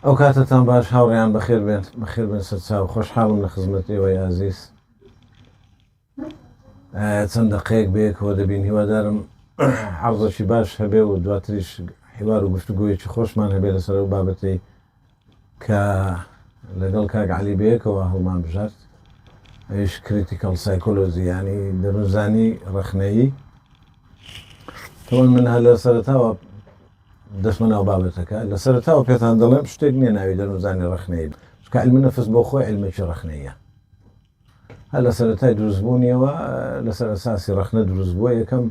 ئەوکاتەتان باش هاوڕێیان بەخێر بێن بەخێر بێن سەرچاو خۆشحاڵم لە خزمەت ئێوەی ئازیز چەند دەقەیەک بەیەکەوە دەبین هیوادارم عرضەکی باش هەبێ و دواتریش حیوار و گفتوگویەکی خۆشمان هەبێ لەسەر ئەو بابەتی کە لەگەڵ کاک علی بەیەکەوە هەڵمان بژارد ئەوش کریتیکەڵ سایکۆلۆزی ینی دەروزانی ڕخنەیی تەوان من هە لە سەرتاوە دەچمە ناو بابەتەکە، لە سەرەتاوە پێتان دەڵێم شتێک نییە ناوی دەروونزانی ڕەخنەیی بێت، چونکە عیلمی نەفس بۆ خۆی عیلمێکی ڕەخنەییە. هەر لە سەرەتای دروستبوونیەوە لەسەر ئەساسی ڕەخنە دروست بووە، یەکەم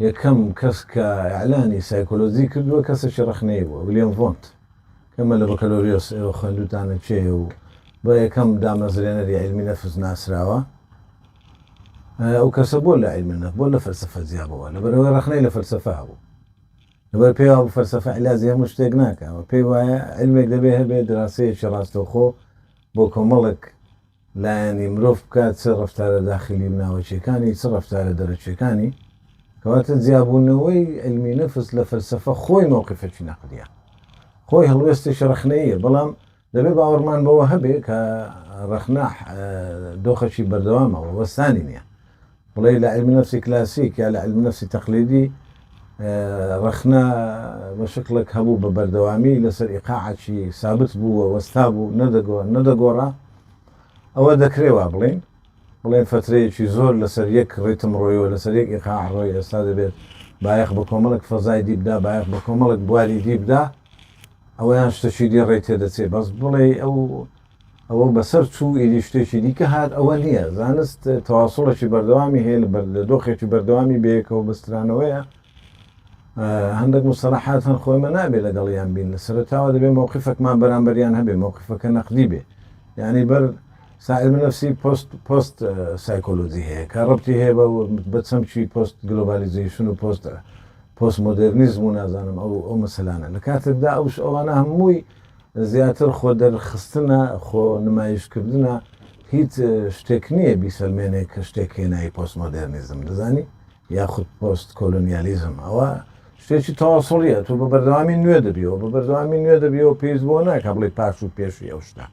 یەکەم کەس کە ئیعلانی سایکۆلۆجی کردووە کەسێکی ڕەخنەیی بووە، ویلیام ڤۆنت کە مەلا بەکالۆریۆس ئێوە خوێندووتانە کێیە و بە یەکەم دامەزرێنەری عیلمی نەفس ناسراوە. ئەو کەسە بۆ لە عیلمی نەفس بۆ لە فەلسەفە جیا بووە، لەبەرئەوەی ڕەخنەی لە فەلسەفە هەبوو. لەبەر پێی وابوو فەلسەفە عیلاجی هەموو شتێک ناکا و پێی وایە عیلمێک دەبێ هەبێ دراسەیەکی ڕاستەوخۆ بۆ کۆمەڵێک لایەنی مرۆڤ بکات چ ڕەفتارە داخلی و ناوەکیەکانی چ ڕەفتارە دەرەکیەکانی کەواتە جیابوونەوەی علمی نەفس لە فەلسەفە خۆی مەوقفێکی نەقدە خۆی هەڵوێستێکی ڕخنەیە بەڵام دەبێ باوەڕمان بەوە هەبێ کە ڕەخنە دۆخەکی بەردەوامە و وەستانی نییە. بڵێ لە علم نفسی کلاسیک یا لە علم نفسی تەقلیدی ڕەخنە بە شکلێک هەبوو بە بەردەوامی لەسەر ئیقاعکی سابت بوو و وەستا بوو نەدەگۆڕا ئەوە دەکرێوا بڵین بڵێن فترەیەکی زۆر لەسەر یەک ڕیتم ڕۆیەوە لەسەر یەک ئیقا ڕۆی ئێستا دەبێت بایەخ بە کۆمەڵک فەزای دیبدا بایەخ بە کۆمەڵک بواری دیبدا ئەوەیان شتەکی دی ڕێی تێدەچێ بەس بڵێی ئەو ئەوە بەسەر چوو ئیدی شتێکی دیکە هات ئەوە نییە زانست تەواسڵێکی بەردەوامی هەیە لە بەر لە دۆخێکی بەردەوامی بەیەکەوە بەسترانەوەیە هەندێک مستەلەحات هەن خۆی مە نابێ لەگەڵیان بین لە سەرتاوە دەبێ مەوقفەکمان بەرامبەریان هەبێ مەوقفەکە نەقدی بێ یعنی بەر سائل من نفسی پۆست پۆست سایکۆلۆجی هەیە کە ڕبتی هەیە بە بە چەمکی پۆست گلۆبالیزیشن و پۆست پۆست مۆدێرنیزم و نازانم ئەو ئەو مەسەلانە لە کاتێکدا ئەوش ئەوانە هەمووی زیاتر خۆ دەرخستنە خۆ نمایشکردە هیچ شتێک نییە بیسەلمێنێ کە شتێک هێنایی پۆست مۆدێرنیزم دەزانی یاخود پۆست کۆلۆنیالیزم ئەوە شتێکی تەواسڵیە تو بە بەردەوامی نوێ دەبیەوە بە بەردەوامی نوێ دەبیەوە پێیز بۆ ناکە بڵی پاش و پێشی ئەو شتە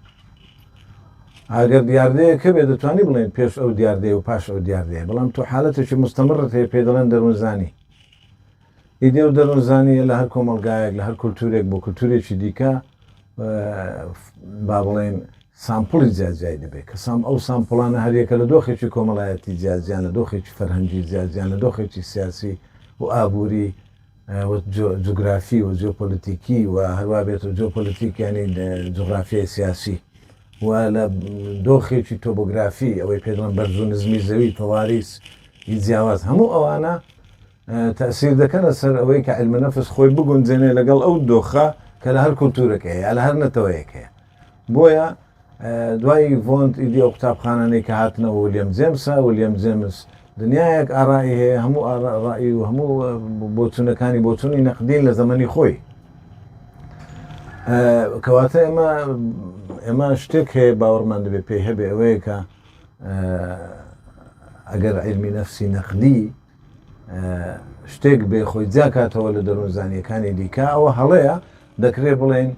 ئەگەر دیاردەیە کە بێ دەتوانانی بڵێن پێش ئەو دیاردەیە و پاش ئەو دیاردەیە بەڵام تو حالەتێکی مستەمڕت هەیە پێ دەڵێن دەروونزانی ئیدێ و دەروون زانییە لە هەر کۆمەڵگایەک لە هەر کولتوورێک بۆ کولتوورێکی دیکە با بڵێین سامپڵی جیاجیای دەبێت کە سام ئەو سامپڵانە هەریەکە لە دۆخێکی کۆمەڵایەتی جیاجیان لە دۆخێکی فەرهەنگی جیاجیان لە دۆخێکی سیاسی و ئابووری جوگرافی و جیۆپۆلیتیکی و هەروابێت و جیۆپۆلیتیکیانی جوغرافیای سیاسی و لە دۆخێکی تۆبۆگرافی، ئەوەی پێ دەڵێن بەرز و نزمی زەوی، تەواریس، ی جیاواز، هەموو ئەوانە تەئسیر دەکەنە سەر ئەوەی کە علم نفس خۆی بگونجێنێ لەگەڵ ئەو دۆخە کە لە هەر کولتوورێک هەیە یا لە هەر نەتەوەیەک هەیە. بۆیە دوای ڤۆنت ئیدی ئەو قوتابخانانەی کە هاتنەوە ولیەم جێمسە، ولیەم جێمس، دنیایەک ئاڕائی هەیە، هەموو ئاڕائی و هەموو بۆچوونەکانی بۆچوونی نەقدین لە زەمەنی خۆی. کەواتە ئێمە ئێمە شتێک هەیە باوەڕمان دەبێت پێی هەبێ ئەوەیە کە ئەگەر علمی نەفسی نەقدی شتێک بێ خۆی جاکاتەوە لە دەروون زانیەکانی دیکە ئەوە هەڵەیە دەکرێت بڵێن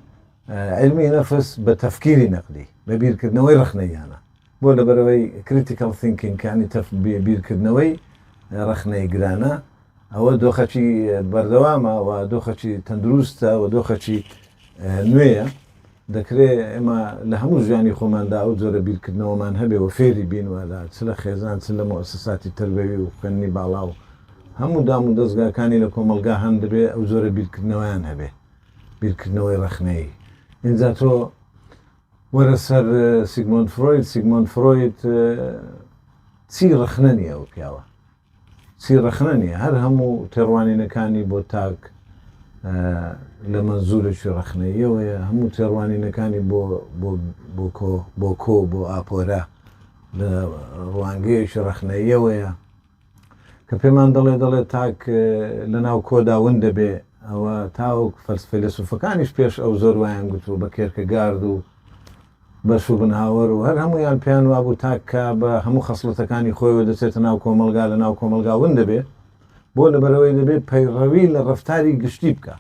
علمی نەفس بە تەفکیری نەقدی بە بیرکردنەوەی ڕخنەیانە بۆ لەبەرئەوەی Critical Thinking یانی تف بیرکردنەوەی ڕەخنەی گرانە ئەوە دۆخەکی بەردەوامە و دۆخەکی تەندروستە و دۆخەکی نوێیە دەکرێ ئێمە لە هەموو ژیانی خۆماندا ئەو جۆرە بیرکردنەوەمان هەبێ و فێری بین و لە چ لە خێزان چ لە موسساتی تەربەوی و خوێندنی باڵا و هەموو دام و دەزگاکانی لە کۆمەڵگا هەن دەبێ ئەو جۆرە بیرکردنەوەیان هەبێ بیرکردنەوەی ڕەخنەیی ئینجا تۆ وەرە سەر سیگمۆند فرۆید سیگمۆند فرۆید چی ڕەخنە نیە ئەو پیاوە چی ڕەخنە نیە هەر هەموو تێڕوانینەکانی بۆ تاک لە مەنزورێکی ڕەخنەیەوەیە هەموو تێڕوانینەکانی بۆ بۆ کۆ بۆ کۆ بۆ ئاپۆرە لە ڕوانگەیەکی ڕەخنەیەوەیە کە پێمان دەڵێ دەڵێ تاک لە ناو کۆدا ون دەبێ ئەوە تاوەک فەلس فەیلەسوفەکانیش پێش ئەو زۆر وایان گوتووە بە کێرکە گارد و بە شوبنهاوەر و هەر هەموویان پێیان وابوو تاک کە بە هەموو خەسڵەتەکانی خۆیەوە دەچێتە ناو کۆمەڵگا لە ناو کۆمەڵگا ون دەبێ بۆ لەبەرەوەی دەبێ پەیڕەوی لە ڕەفتاری گشتی بکا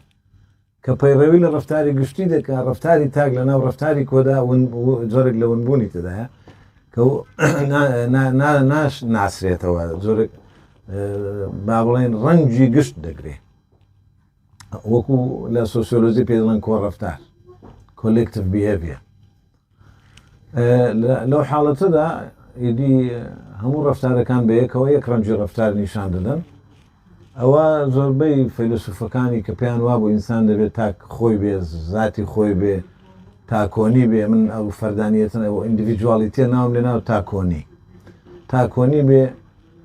کە پەیڕەوی لە ڕەفتاری گشتی دەکا ڕەفتاری تاک لە ناو ڕەفتاری کۆدا جۆرێک لە ونبوونی تدایە کە ناش ناسرێتەوە جۆرێک با بڵێن ڕەنگی گشت دەگرێ وەکو لە سۆسیۆلۆزی پێڵەن کۆڕفتار کۆلکتف بهێویە لەو حاڵەتەدا ئیدی هەموو ڕەفتارەکان بەیەکەوە یەک ڕەنگی ڕەفتار نیشان دەدەن. ئەوە زۆربەی فەیلەسوفەکانی کە پێیان وابوو ئینسان دەبێت تاک خۆی بێ زاتی خۆی بێ تاکۆنی بێ من ئەو فەردانیەتن ئەو ئیندیڤیدوالیتیە ناوم لێ ناو تاکۆنی تاکۆنی بێ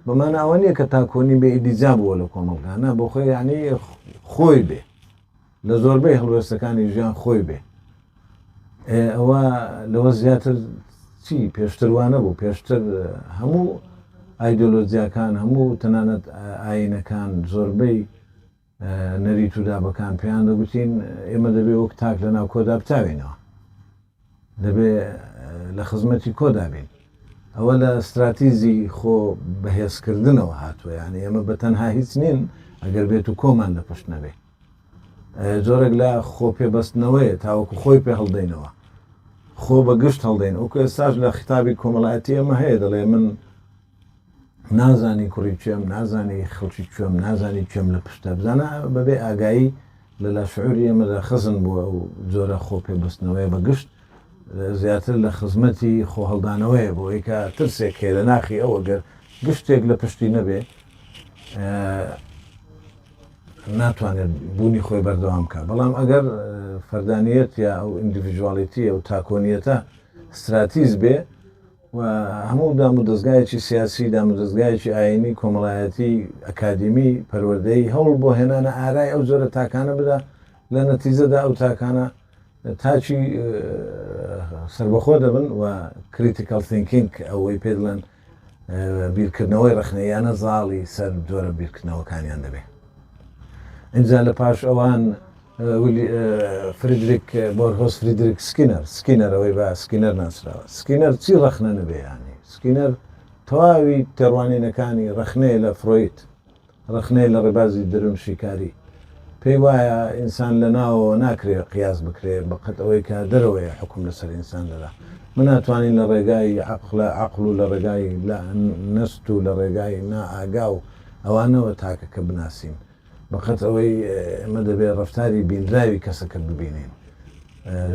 بەمانە ئەوە نییە کە تاکۆنی بێ ئیدیجا بووە لە کۆمەڵگانە بۆ خۆی یعنی خۆی بێ لە زۆربەی هەڵوێستەکانی ژیان خۆی بێ ئێ ئەوە لەوە زیاتر چی پێشتر وا نەبوو پێشتر هەموو ئایدۆلۆجیاکان هەموو تەنانەت ئاینەکان زۆربەی نەریت و دابەکان پێیان دەگوتین ئێمە دەبێ وەک تاک لە ناوکۆدا بتاوینەوە دەبێ لە خزمەتی کۆدا بین. ئەوە لە ستراتیزی خۆ بەهێزکردنەوە هاتووە یانی ئێمە بە تەنها هیچ نین ئەگەر بێت و کۆمان لە پشت نەبێ جۆرێک لە خۆ پێبەستنەوەیە تاوەکو خۆی پێ هەڵدەینەوە خۆ بە گشت هەڵدەین ئەو ئێستاش لە خیتابی کۆمەڵایەتی ئەمە هەیە دەڵێ من نازانی کوڕی کێم نازانی خەڵکی کوێم نازانی کوێم لە پشتە بزانە بەبێ ئاگایی لە لاشعوری ئێمەدا خزن بووە ئەو جۆرە خۆ پێبستنەوەی بەگشت زیاتر لە خزمەتی خۆهڵدانەوەی بۆ ئەیکا ترسێک هەیە لە ناخی ئەوە گەر گشتێک لە پشتی نەبێ ناتوانێت بوونی خۆی بەردەوام بکە بەڵام ئەگەر فەردانیت یا ئەو ئینگلیژواڵیتی ئەو تاکۆنیەتە استراتیز بێ و هەموو دامودەزگایەکی سیاسی، دامودەزگایەکی ئایینی، کۆمەڵایەتی، ئەکادیمی، پەروەردەیی، هەوڵ بۆ هێنانە ئارای ئەو جۆرە تاکانە بدا، لە نەتیجەدا ئەو تاکانە تاکی سەربەخۆ دەبن و Critical Thinking ئەوەی پێ دڵێن بیرکردنەوەی ڕەخنەییانە زاڵی سەر جۆرە بیرکردنەوەکانیان دەبێ ئینجا لە پاش ئەوان فریدریک بۆرهۆس فریدریک سکینەر سکینەر ئەوەی بە سکینەر ناسراوە سکینەر چی ڕەخنە نبێیانی سکینەر تەواوی تێڕوانینەکانی ڕەخنەیە لە فرۆید ڕەخنەیە لە ڕێبازی درون شیکاری پێی وایە ئینسان لە ناوەوە ناکرێ قیاس بکرێ بەقەت ئەوەی کە دەرەوەیە حکوم لەسەر ئینسان دەدا من ناتوانین لە ڕێگای عقلە عقل و لە ڕێگای نەست و لە ڕێگای نائاگا و ئەوانەوە تاکەکە بناسین بەقەد ئەوەی ئێمە دەبێت ڕەفتاری بینراوی کەسەکە ببینین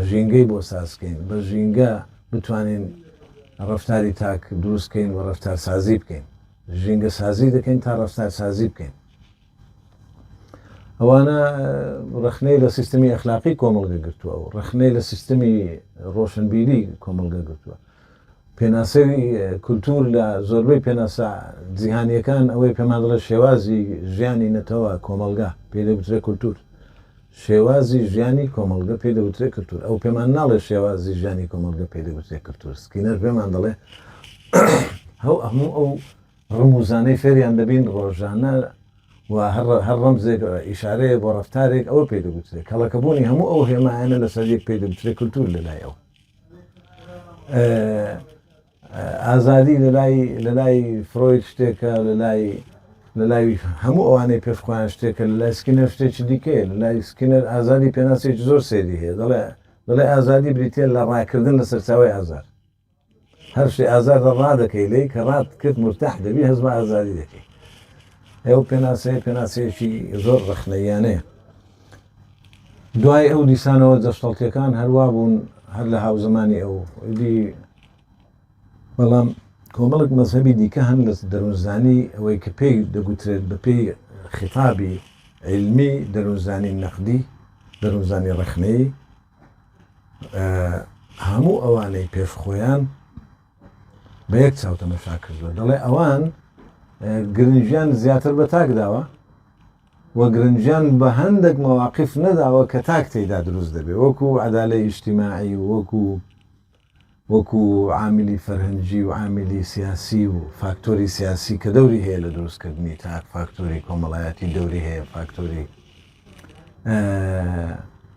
ژینگەی بۆ سازکەین بە ژینگە بتوانین ڕەفتاری تاک دروستکەین و ڕەفتارسازی بکەین ژینگە سازی دەکەین تا ڕفتار سازی بکەین ئەوانە ڕخنەی لە سیستمی ئەخلاقی کۆمەڵگە گرتووە و ڕخنەی لە سیستمی ڕۆشنبیری کۆمەڵگە گرتووە پێناسەی کولتوور لە زۆربەی پێناسە جیهانییەکان ئەوەی پێمان دەڵێت شێوازی ژیانی نەتەوە کۆمەڵگا پێی دەگوترێت کولتوور. شێوازی ژیانی کۆمەڵگە پێی دەگوترێت کولتوور. ئەو پێمان ناڵێت شێوازی ژیانی کۆمەڵگە پێی دەگوترێت کولتوور. سکینەر پێمان دەڵێت هەو هەموو ئەو ڕمووزانەی فێریان دەبین ڕۆژانە و هەر هەر ڕەمزێک ئیشارەیە بۆ ڕەفتارێک ئەوە پێی دەگوترێت کەڵەکەبوونی هەموو ئەو هێمایانە لەسەر یەک پێی دەگوترێت کولتوور لەلای ئەو. ئازادی لەلای فرۆید شتێکە لەلای لەلای هەموو ئەوانەی پێش خۆیان شتێکە لە لای سکینەر شتێکی دیکەیە لە لای سکینەر ئازادی پێناسێکی زۆر سەیری هەیە دەڵێ دەڵێ ئازادی بریتە لە ڕاکردن لە سەرچاوی ئازار هەر شتێ ئازار لە ڕا دەکەی لی کە ڕات کرد مرتاح دەبی هەز بە ئازادی دەکەی ئەو پێناسەیە پێناسەیەکی زۆر ڕخنەیانەیە دوای ئەو دیسانەوە جەستەڵتیەکان هەروا بوون هەر لە هاوزەمانی ئەو ئیدی بەڵام کۆمەڵک مەذهبی دیکە هەن لە دەروونزانی ئەوەی کە پێی دەگوترێت بە پێی خیتابی علمی دەروونزانی نەقدی دەروونزانی ڕخنەی هەموو ئەوانەی پێش خۆیان بە یەک چاوتەمەشا کردووە دەڵێ ئەوان گرنجیان زیاتر بە تاک داوە و گرنگیان بە هەندێک مەواقیف نەداوە کە تاک تێیدا دروست دەبێت وەکو عەدالەی ئیجتیماعی و وەکو وەکو عاملی فەرهەنگی و عاملی سیاسی و فاکتۆری سیاسی کە دەوری هەیە لە دروست کردنی تاک فاکتۆری کۆمەڵایەتی دەوری هەیە فاکتۆری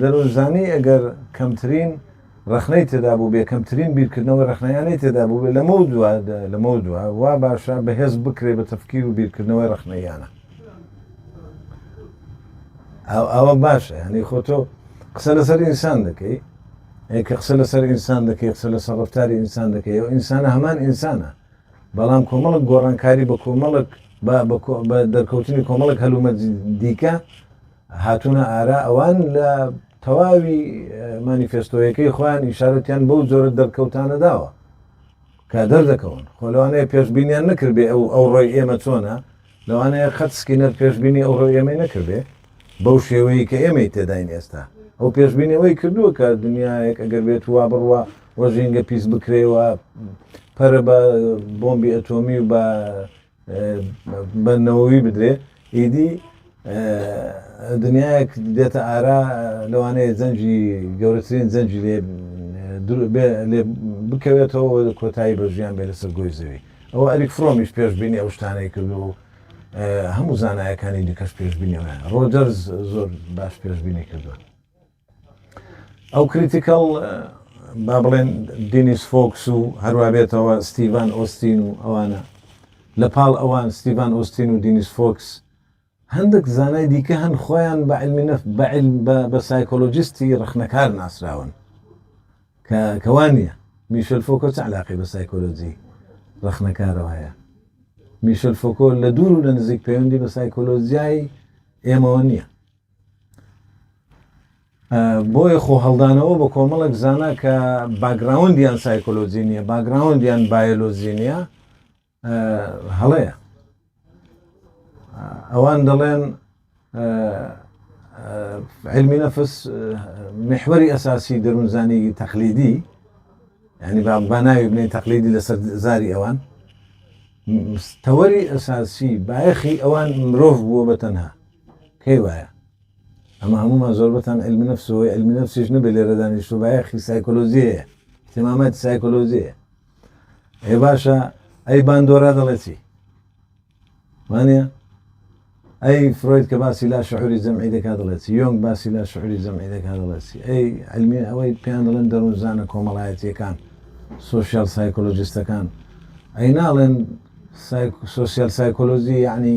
دەروونزانی ئەگەر کەمترین ڕەخنەی تێدا بووبێ، کەمترین بیرکردنەوەی ڕەخنەیانەی تێدا بووبێ، لەمەودوا لەمەودوا وا باشە بەهێز بکرێ بە تەفکیر و بیرکردنەوەی ڕەخنەییانە. ئاو ئاوا باشە یانی خۆ تۆ قسە لەسەر ئینسان دەکەی، ئەی کە قسە لەسەر ئینسان دەکەی قسە لەسەر ڕەفتاری ئینسان دەکەی و ئینسانە هەمان ئینسانە، بەڵام کۆمەڵک گۆڕانکاری بە کۆمەڵک بە بە کۆ بە دەرکەوتنی کۆمەڵک هەلومەرجی دیکە، هاتوونە ئارا ئەوان لە تەواوی مانیفێستۆیەکەی خۆیان ئیشارەتیان بەو جۆرە دەرکەوتانە داوە کە دەردەکەون خۆ لەوانەیە پێشبینیان نەکردبێ ئەو ئەو ڕۆی ئێمە چۆنە لەوانەیە خەت سکینەر پێشبینی ئەو ڕۆی ئێمەی نەکردێ بەو شێوەیە کە ئێمەی تێداین ئێستا ئەو پێشبینی ئەوەی کردووە کە دنیایەک ئەگەر بێت وا بڕوا وە ژینگە پیس بکرێەوە پەرە بە بۆمبی ئەتۆمی و بە بە نەوەوی بدرێ ئیدی دنیایەک دێتە ئارا لەوانەیە جەنجی گەورەترین جەنجی لێ لێ بکەوێتەوە کۆتایی بە ژیان بێ لەسەر گۆی زەوی ئەوە ئەریک فرۆمیش پێشببینی ئەو شتانەی کردو و هەموو زانایەکانی دیکەش پێشببینیەوە ڕۆجەرز زۆر باش پێشببینی کردووە ئەو کریتیکەڵ با بڵێن دینیس فۆکس و هەروا بێتەوە ستیڤان ئۆستین و ئەوانە لە پاڵ ئەوان ستیڤان ئۆستین و دینیس فۆکس هەندێک زانای دیکە هەن خۆیان بە علمی نەف بە علم بە سایکۆلۆجیستی ڕخنەکار ناسراون کە کەوان نیە میشل فۆکۆ چ علاقی بە سایکۆلۆجی ڕخنەکارەوە هەیە میشل فۆکۆ لە دوور و لە نزیک پەیوەندی بە سایکۆلۆژیای ئێمەوە نییە بۆیە خۆ هەڵدانەوە بە کۆمەڵک زانە کە باگراوندیان سایکۆلۆجی نیە باگراوندیان بایۆلۆجی نیە هەڵەیە ئەوان دەڵێن علمی نەفس محوەری ئەساسی دەروونزانی تەقلیدی ینی با ناوی بنەی تەقلیدی لەسەر زاری ئەوان تەوەری ئەساسی بایەخی ئەوان مرۆڤ بووە بە تەنها کەی وایە ئەمە هەموومان زۆربەتان علم نفس و علم نفسیش نەبێ لێرە دانیشتو بایەخی سایکۆلۆژی هەیە اهتماماتی سایکۆلۆژی هەیە ئەی باشە ئەی باندۆرا دەڵێ چی وانە ئەی فرۆید کە باسی لا شعوری جەمعی دەکات دەڵێ چی یۆنگ باسی لا شعوری جەمعی دەکات دەڵێ چی ئەی علمی ئەوەی پێیان دەڵێن دەروونزانە کۆمەڵایەتیەکان سوسیال سایکۆلۆژیستەکان ئەی ناڵێن سوسیال سایکۆلۆژی یعنی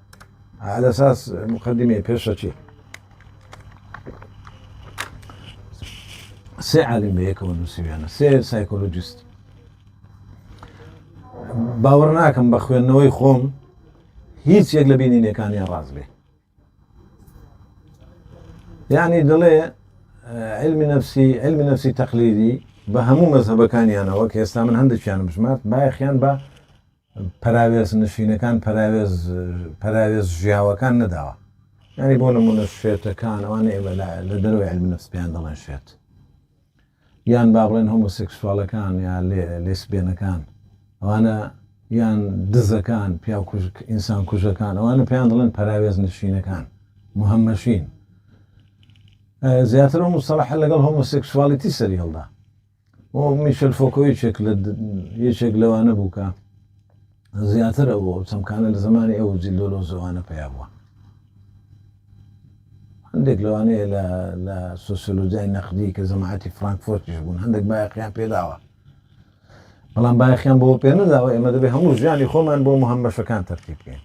على اساس مقدمه پێشەچی سێ عالم بە یەکەوە نووسویانە سێ سایکۆلۆجیست باوەڕ ناکەم بە خوێندنەوەی خۆم هیچ یەک لە بینینەکانیان ڕاز بێ یعنی دڵێ علمی نفسی علمی نفسی تەقلیدی بە هەموو مەزهبەکانیانەوە کە ئێستا من هەندێکیان بژمارد بایەخیان بە پەراوێز نشینەکان پەراوێز پەراوێز ژیاوەکان نەداوە یعنی بۆ نمونە شێتەکان ئەوانە ئێمە لە دەرەوەی علم نفس پێیان دەڵێن شێت یان با بڵێن هۆمۆسێکسوالەکان یا لێسبێنەکان ئەوانە یان دزەکان پیا ئینسان کوژەکان ئەوانە پێیان دڵێن پەراوێز نشینەکان محەممەشین زیاتر و مسەڵحە لەگەڵ هۆمۆسێکسوالیتی سەری هەڵدا و میشل فۆکۆ یەکێک لە یەکێک لەوانە بوو کە زیاتر ئەو چەمکانە لە زمانی ئەو جیلۆلۆزەوانە پیا بووە هەندێک لەوانەیە لە سۆسیۆلۆجیای نەقدی کە زەماعەتی فرانکفۆرتیش بوون هەندێک بایەقیان پێداوە بەڵام بایەخیان بۆ پێ نەداوە ئێمە دەبێ هەموو ژیانی خۆمان بۆ مهمەشەکان تەرتیب بکەین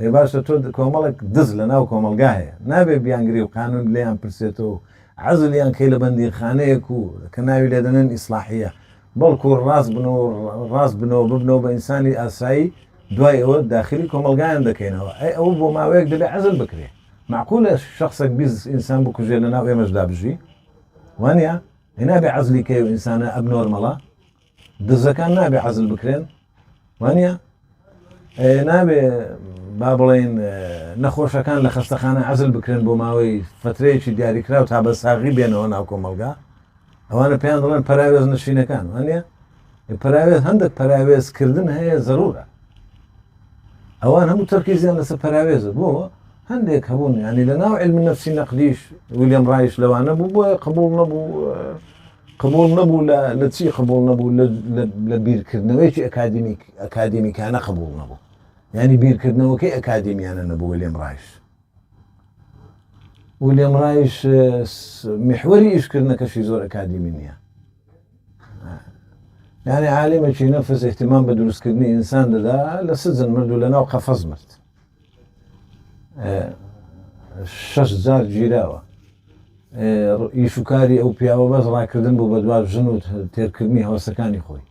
ئێ باشە تۆ کۆمەڵێک دز لە ناو کۆمەڵگا هەیە نابێ بیانگری و قانون لێیان پرسێتەوە و عەزلیان کەی لە بەندینخانەیەک و کە ناوی لێ دەنێن ئیسلاحیە بەڵکو ڕاست بن و ڕاست بنەوە ببنەوە بە ئینسانی ئاسایی دوای ئەوە داخلی کۆمەلگایان دەکەینەوە ئەی ئەوە بۆ ماوەیەک دەبێ عزل بکرێ معقولە شخصێک بیز ئینسان بکوژێ لە ناو ئێمەشدا بژی وانە ئەی نابێ عزلی کەی و ئینسانە ئەب نۆرمەڵە دزەکان نابێ حەزل بکرێن وانە نابێ با بڵێن نەخۆشەکان لە خەستەخانە عزل بکرێن بۆ ماوەی فترەیەکی دیاریکراو تا بە ساغی بێنەوە ناو کۆمەلگا ئەوانە پێیان دەڵێن پراوێز نشینەکان وانە پراوێز هەندێک پراوێزکردن هەیە زەرورە ئەوان هەموو تەرکیزیان لەسەر پراوێزە بۆ هەندێک هەبوون ینی لە ناو علم نفسی نەقدیش ویلیام ڕایش لەوانە بوو بۆیە قبول نەبوو قبوڵ نەبوو لە لە چی قبوڵ نەبوو لە لە لە بیرکردنەوەیەکی ئەکادیمیک ئەکادیمیکانە قبوڵ نەبوو یانی بیرکردنەوەکەی ئەکادیمیانە نەبوو ویلیام ڕایش ویلیام ڕایش محوەری ئیشکردنەکەشی زۆر ئەکادیمی نییە یعنی عالمێکی نەفس احتمام بە دروستکردنی ئینسان دەدا لە سجن مرد و لە ناو قەفەز مرد شەش جار گیراوە ئیشوکاری ئەو پیاوە بەس ڕاکردن بوو بە دوا ژن و تێرکردنی هەوسەکانی خۆی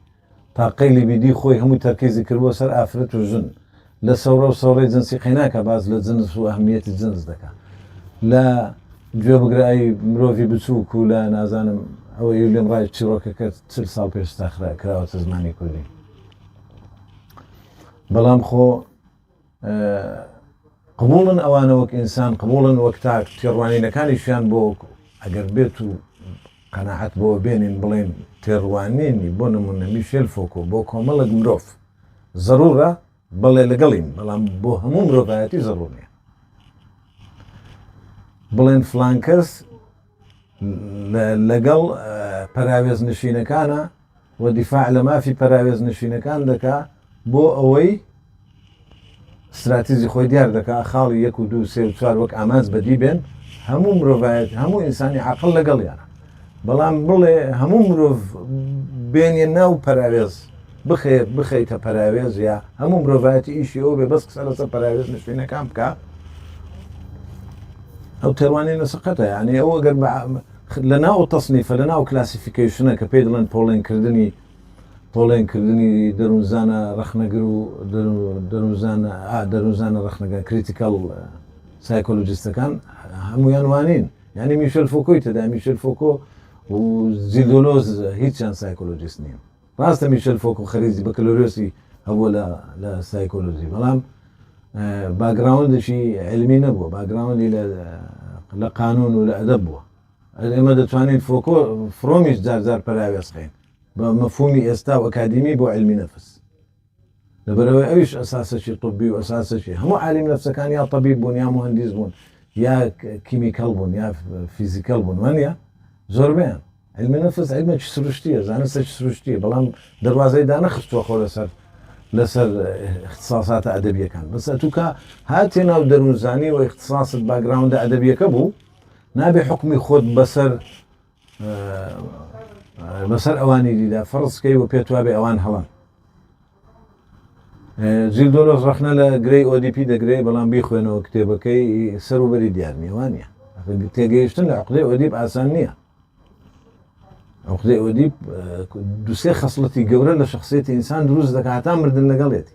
تا قەیلی بیدی خۆی هەموو تەرکیزی کردوە سەر ئافرەت و ژن لە سەورە و سەورەی جنسی قەیناکە باز لە جنس و ئەهمیەتی جنس دەکە لە گوێ بگرایی مرۆڤی بچووک و لە نازانم ئەوە لێم ڕای چیرۆکەکە چل ساڵ پێش تاخرا کراوەتە زمانی کوردی بەڵام خۆ قبوڵن ئەوانە وەک ئینسان قبوڵن وەک تاک تێڕوانینەکانیشیان بۆ ئەگەر بێت و قەناعەت بەوە بێنین بڵێین تێڕوانینی بۆ نمونە میشێل فۆکۆ بۆ کۆمەڵک مرۆڤ زەرورە بەڵێ لەگەڵین بەڵام بۆ هەموو مرۆڤایەتی زەرور نیە بڵێن فلانکەس لەگەڵ پەراوێزنشینەکانە و دیفاع لە مافی پەراوێزنشینەکان دەکا بۆ ئەوەی استراتیزی خۆی دیار دەکا خاڵی یەک و دوو سێ و چوار وەک ئامانج بەدی بێن هەموو مرۆڤایەت هەموو ئینسانی عقل لەگەڵیانە بەڵام بڵێ هەموو مرۆڤ بێنە ناو پەراوێز بخەیت بخەیتە پەراوێز یا هەموو مرۆڤایەتی ئیشی ئەو بێ بەس قسە لەسەر پەراوێز نشینەکان بکە ئەو تێوانەی نەسەقەتە یعنی ئەو ئەگەر لە ناو تەسنیفە لە ناو کلاسیفیکیشنە کە پێی دڵێن پۆڵێنکردنی پۆڵێنکردنی دەروونزانە ڕخنەگر و دەروزانە دەروزانە ڕخنەگە کریتیکەڵ سایکۆلوجیستەکان هەمویان وانین یعنی میشل فۆکۆی تدا میشل فۆکۆ و زیدۆلۆز هیچیان سایکۆلۆجیست نیە ڕاستە میشل فۆکۆ خەریجی بەکلۆریۆسی هەبووە لە لە سایکۆلۆژی بەڵام باگراوندشی علمی نەبووە باگراوندی لە لە قانون و لە ئەدەب بووە ئێمە دەتوانین فۆکۆ فرۆمیش جارجار پەراوێزخین بە مەفهومی ئێستا و ئەکادیمی بۆ علمی نەفس لەبەرئەوەی ئەویش ئەساسەکی طبی و ئەساسەکی هەموو عالم نەفسەکان یا طبیب بوون یا موهەندیس بوون یا کیمیکەڵ بوون یا فیزیکەڵ بوون وانە زۆربیان علم نفس علمێکی سروشتیە زانستێکی سروشتیە بەڵام دەواازەی دانەخستوە خۆ لەسەر لەسەر اختصاساتە ئەدەبیەکان بەس توکە هاتێ ناو دەروونزانی و اختصاست باگراوندە ئەدەبیەکە بوو نابێ حکمی خۆت بەسەر بەسەر ئەوانی دیدا فڕستکەی و پێتوابێ ئەوان هەڵن جیل دۆلۆس ڕخنە لە گرەی ئۆدیپی دەگرێت بەڵام بیخوێنەوە کتێبەکەی سەر و بەری دیار نیوانە تێگەیشتن لە عقدەی ئۆدیب ئاسان نییە ئەوخدەی ئۆدیب دوسێ خەسڵەتی گەورە لە شخصێتی ئینسان دروست دەکاتان مردن لەگەڵێتی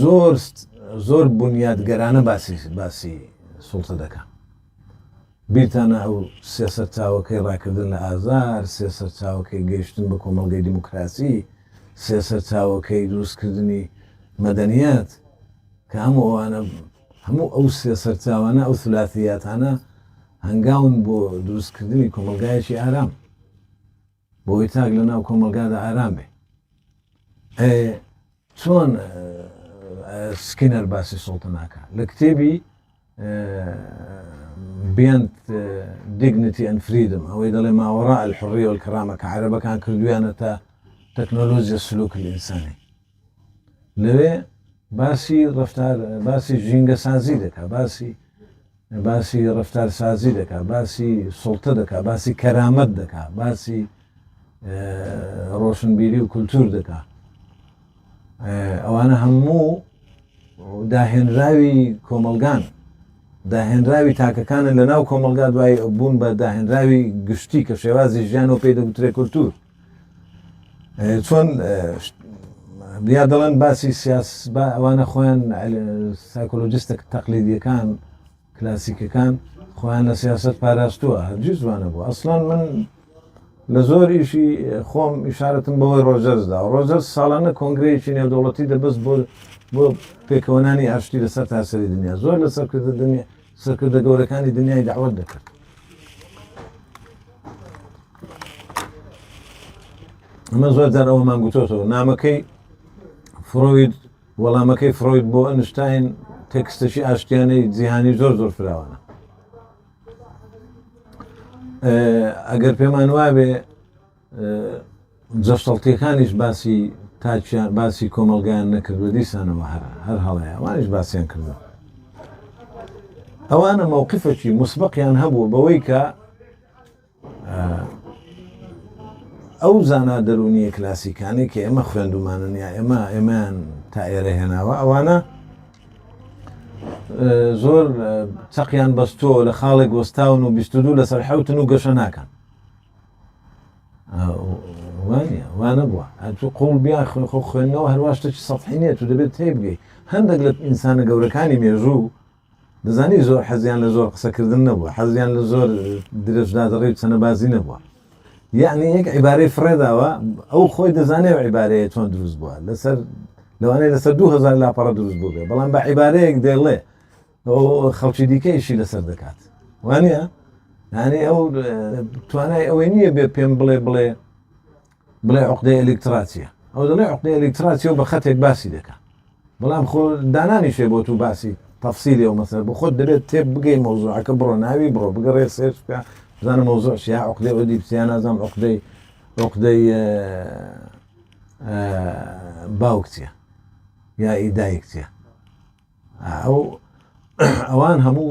زۆر زۆر بنیاتگەرانە باسی باسی سڵتە دەکەم بیرتانە ئەو سێ سەرچاوەکەی ڕاکردن لە ئازار سێ سەرچاوەکەی گەیشتن بە کۆمەلگەی دیموکراسی سێ سەرچاوەکەی دروستکردنی مەدەنیەت کە هەموو ئەوانە هەموو ئەو سێ سەرچاوانە ئەو سلاسیاتانە هەنگاون بۆ دروستکردنی کۆمەلگایەکی ئارام بۆی تاک لە ناو کۆمەڵگادا ئارام بێ ئەێ چۆن سکینەر باسی سوڵتە ناکە لە کتێبی بیاند دیگنتی ئەن فریدم ئەوەی دەڵێ ماوەڕە ئەلحڕیۆل کەڕامە کە عربەکان کردویانە تا تەکنۆلۆزیە سلوک ئینسانی لەوێ باسی ڕەفتار باسی ژینگە سازی دەکا باسی باسی ڕفتار سازی دەکا باسی سڵتە دەکا باسی کەرامەت دەکا باسی ڕۆشنبیری و کولتور دەکا ئەوانە هەموو داهێنراوی کۆمەلگان داهێنراوی تاکەکانن لە ناو کۆمەلگا دوای بوون بە داهێنراوی گشتی کە شێوازی ژیان و پێی دەگوترێ کولتور چۆن یا دەڵێن باسی سیاس با ئەوانە خۆیان سایکۆلۆجیستە تەقلیدیەکان کلاسیکەکان خۆیان لە سیاست پاراستووە هەرگی زوانە بوو ئەسلان من لە زۆر ئیشی خۆم ئشارەتم بەوەی ڕۆژەرزدا ڕۆژەر ساڵانە کۆنگرەیەکی نێودەوڵەتی دەبست بۆ بۆ پێکەوەنانی ئاشتی لەسەر تاسەری دنیا زۆر لەسەر کردنی سەرکردە گەورەکانی دنیای داوت دەکرد ئەمە زۆر جار ئەوەمان گوتۆتەوە نامەکەی فرۆید وەڵامەکەی فرۆید بۆ ئەنشتین تەکستەشی ئاشتیانەی جیهانی زۆر زۆر فراوانە ئەگەر پێمان وابێ جەشتەڵتیەکانیش باسی تاکیان باسی کۆمەڵگایان نەکردوە دیسانەوە هەر هەر هەڵەیە ئەوانیش باسیان کردوە ئەوانە مەوقفەکی مسبقیان هەبوو بەوەی کە ئەو زانا دەرونیە کلاسیکانی کە ئێمە خوێندومانن یا ئێمە ئێمان تا ئێرە هێناوە ئەوانە زۆر چەقیان بەستۆ لە خاڵێک وەستاون و بیستدو لەسەر حوتن و گەشە ناکەن وانە وانە بووە ئەتو قوڵ بیا خوێن خۆ خوێندنەوە هەروە شتێکی سەحی نیە تو دەبێت تێ بگەی هەندێک لە ئینسانە گەورەکانی مێژوو دەزانی زۆر حەزیان لە زۆر قسەکردن نەبووە حەزیان لە زۆر درێژدادڕی و چەنەبازی نەبووە یعنی یەک عیبارەی فرێداوە ئەو خۆی دەزانێت و عیبارەیە چۆن دروست بووە لەسەر لەوانەیە لەسەر 2000 لاپەڕە دروست بوو بێ بەڵام بە عیبارەیەک دێڵێ ئەو خەڵکی دیکە ئیشی لەسەر دەکات وانە یانێ ئەو توانای ئەوەی نییە بێ پێم بڵێ بڵێ بڵێ عقدەی ئەلکتراتە ئەو دەڵێ عقدی ئەلکتراتەوە بە خەتێک باسی دەکات بەڵام خۆ دانانیشێ بۆ تو باسی تەفسیری ئەو مەسەر بۆ خۆت دەبێت تێ بگەی مۆزوعەکە بڕۆ ناوی بڕۆ بگەڕێ سێرچ بکە بزانە مۆزوع شیا عقدەی ئەو دیپسیان نازانام عقدەی عقدەی باوکتە یا ئیدایکتە ئەو ئەوان هەموو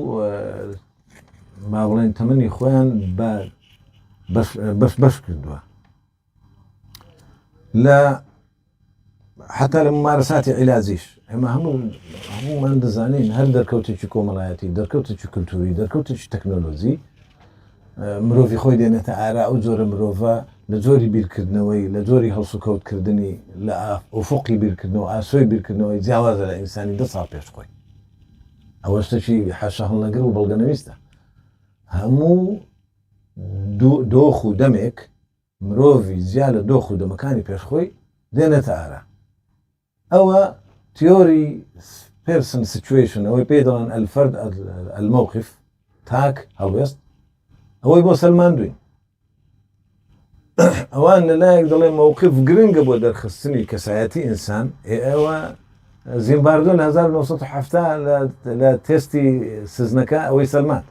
با بڵێن تەمەنی خۆیان بە بەس بەش کردووە لە حتا لە ممارەساتی عیلاجیش ئەمە هەموو هەموومان دەزانین هەر دەرکەوتێکی کۆمەڵایەتی دەرکەوتێکی کللتوری دەرکەوتێکی تەکنۆلۆژی مرۆڤی خۆی دێنێتە ئارا ئەو جۆرە مرۆڤە لە جۆری بیرکردنەوەی، لە جۆری هەڵسوکەوت کردنی، لە ئوفوقی بیرکردنەوە، ئاسۆی بیرکردنەوەی جیاوازە لە ئینسانی دە ساڵ پێش خۆی. ئەوە شتەکی حەشە هەڵنەگر و بەڵگە نەویستە. هەموو دۆخ و دەمێک مرۆڤی جیا لە دۆخ و دەمەکانی پێش خۆی دێنێتە ئارا. ئەوە تیۆری پێرسن سیتوەیشن ئەوەی پێی دەڵێن ئەلفەرد ئەلمەوقف تاک هەڵوێست ئەوەی بۆ سەلماندوین ئەوان لەلایەک دەڵێ مووقف گرنگە بۆ دەرخستنی کەسایەتی ئینسان ئێوە زیمباردۆ لە 1970 لە تستی سزنەکە ئەوەی سلمان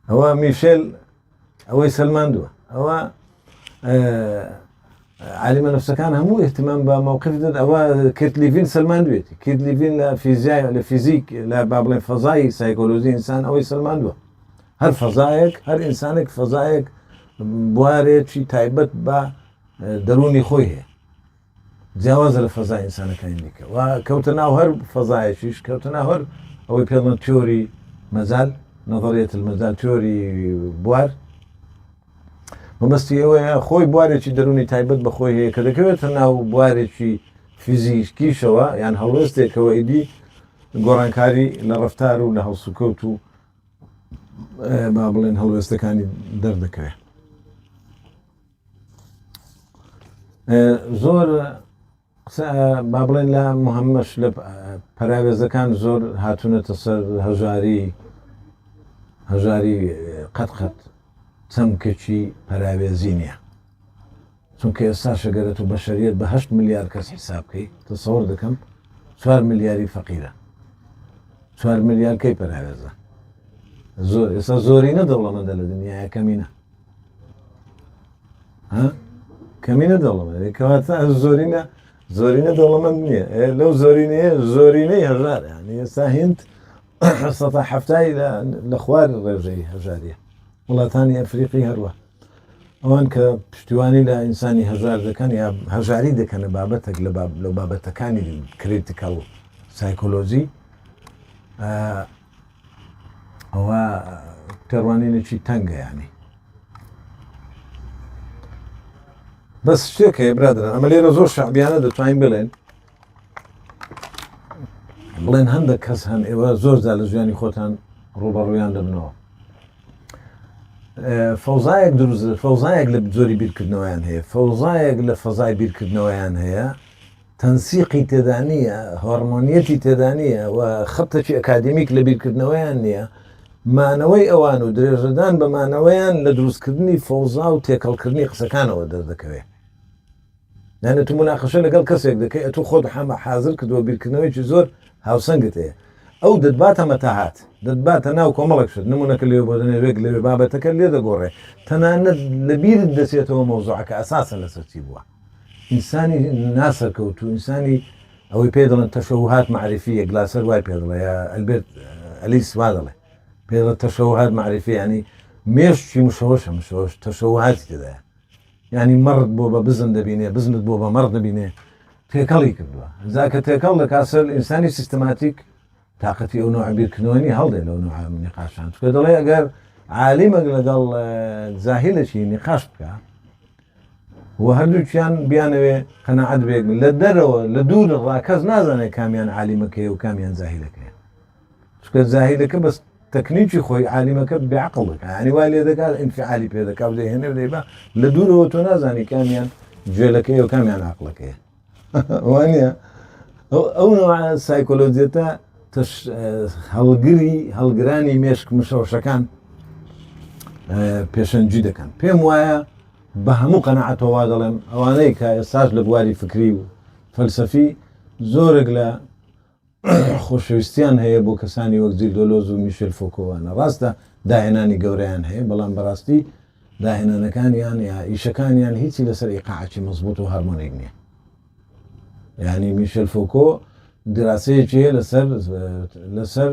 ئەوە میشل ئەوەی سەلماندووە ئەوە عالمە نفسەکان هەموو احتمام بە مووقف دەد ئەوە کرد لیڤین سلماندوێتی کرد لیڤین لە فیزیای لە فیزیک لە با بڵێ فەزایی سایکۆلۆژی ئینسان ئەوەی سلماندووە هەر فەزایەک هەر ئینسانێک فەزایەک بوارێکی تایبەت بە دەرونی خۆی هەیە جیاوازە لە فەزای ئینسانەکانی دیکە و کەوتە ناو هەر فەزایەکیش کەوتە ناو هەر ئەوەی پێڵە تیۆری مەزال نەظریێت مەزال تیۆری بوار مەبەستی ئەوەیە خۆی بوارێکی دەرونی تایبەت بەخۆی هەیە کە دەکەوێتە ناو بوارێکی فیزیکیشەوە یان هەڵوێستێکەوە ئیدی گۆڕانکاری لە ڕفتار و لە هەڵسوکەوت و با بڵێن هەڵوێستەکانی دەردەکەوێت زۆر با بڵێن لە محەممەش لە پەراوێزەکان زۆر هاتوونەتە سەر هەژاری هەژاری قەت قەت چەمکەچی پەراوێزی نییە چونکە ئێستا شەگەرێت و بەشریت بەهشت ملیار کەس حساب بکەیت تەسەور دەکەم چوار ملیاری فەقیرە چوار ملیارکەی پەراێزە زۆر ئێستا زۆرینە دەوڵەمەندە لە دنیاە کەمینە ها کەمینە دەوڵەمەندی کەواتە زۆرینە زۆرینە دەوڵەمەند نییە لەو زۆرینەیە زۆرینەی هەژار یعنی ئێستا هند سەتا هەفتای لە خوار ڕێژەی هەژاریە وڵاتانی ئەفریقی هەروە ئەوان کە پشتیوانی لە ئینسانی هەژار دەکەن یا هەژاری دەکەنە بابەتێک لە بابەتەکانی کریتیکەڵ سایکۆلۆژی ئەوە تێڕوانینێکی تەنگە ینی بەس شتێک هەیە برادران ئەمە لێرە زۆر شعبیانە دەتوانین بڵێن بڵێن هەندێک کەس هەن ئێوە زۆر زار لە ژیانی خۆتان ڕوبەڕویان دەبنەوە فەوزایەک دروست فەوزایەک لە جۆری بیرکردنەوەیان هەیە فەوزایەک لە فەزای بیرکردنەوەیان هەیە تەنسیقی تێدا نییە، هۆڕمۆنییەتی تێدا نییە و خەبتەکی ئەکادیمیک لە بیرکردنەوەیان نییە، مانەوەی ئەوان و درێژەدان بە مانەوەیان لە دروستکردنی فەوزا و تێکەڵکردنی قسەکانەوە دەردەکەوێ. یانێ تو موناقەشە لەگەڵ کەسێک دەکەی ئەتو خۆت حەمە حازر کردووە بیرکردنەوەیەکی زۆر هاوسەنگت هەیە ئەو دەتباتە مەتاهات دەتباتە ناو کۆمەڵێک شت نمونەکە لێوێ بۆ دەنێ وێک لەوێ بابەتەکە لێ دەگۆڕێ تەنانەت لە بیرت دەچێتەوە مەوزوعەکە ئەساسەن لەسەر چی بووە. ئینسانی نا سەرکەوتوو ئینسانی ئەوەی پێ دەڵێن تەشەوهات معرفی یە گلاسەر وای پێ دڵێ ئەلبێرت ئەلیس وا دەڵێ پێ دڵێ تەشەوهات معرفی ینی مێشکی مشەوەشە مشەوەش تەشەوهاتی تێدایە ینی مەڕت بۆ بە بزن دەبینێ بزنت بۆ بە مەڕ دەبینێ تێکەڵی کردووە زاکە تێکەڵ دەکات سەر ئینسانی سیستماتیک تاقەتی ئەو نەوعە بیرکردنەوە نیە هەڵدێ لەو نەوعە نیقاشان چکە دەڵێ ئەگەر عالیمەک لەگەڵ زاهیلەکی نیقاش بکە و هەردووکیان بیانەوێ قەنەعەت بێک لە دەرەوە لە دوور ڕاکەس نازانێت کامیان عالیمەکەی و کامیان زاهیلەکەی چکە زاهیلەکە بەست تەکنیکی خۆی عالیمەکە بێعقل دەکە ئەنی وا لێ دەکات ئینفعالی پێ دەکات دەهێنێ دەیبا لە دوورەوە تۆ نازانی کامیان جوێلەکەی و کامیان عقلەکەی وانیە؟ ئەو نەوعە سایکۆلۆجیەتە تەش هەڵگری هەڵگرانی مێشک مشەوشەکان پێشەنجی دەکەن پێم وایە بە هەموو قەنەعەتەوە دەڵێم ئەوانەی کە ئێستاش لە بواری فکری و فەلسەفی زۆرێک لە خۆشەویستیان هەیە بۆ کەسانی وەک جیل دۆلۆز و میشێل فۆکۆ وانە. ڕاستە داهێنانی گەورەیان هەیە، بەڵام بەڕاستی داهێنانەکانیان یا ئیشەکانیان هیچی لەسەر ئیقاعێکی مەزبووت و هارمۆنیک نییە. یانی میشێل فۆکۆ دراسەیەکی هەیە لەسەر لەسەر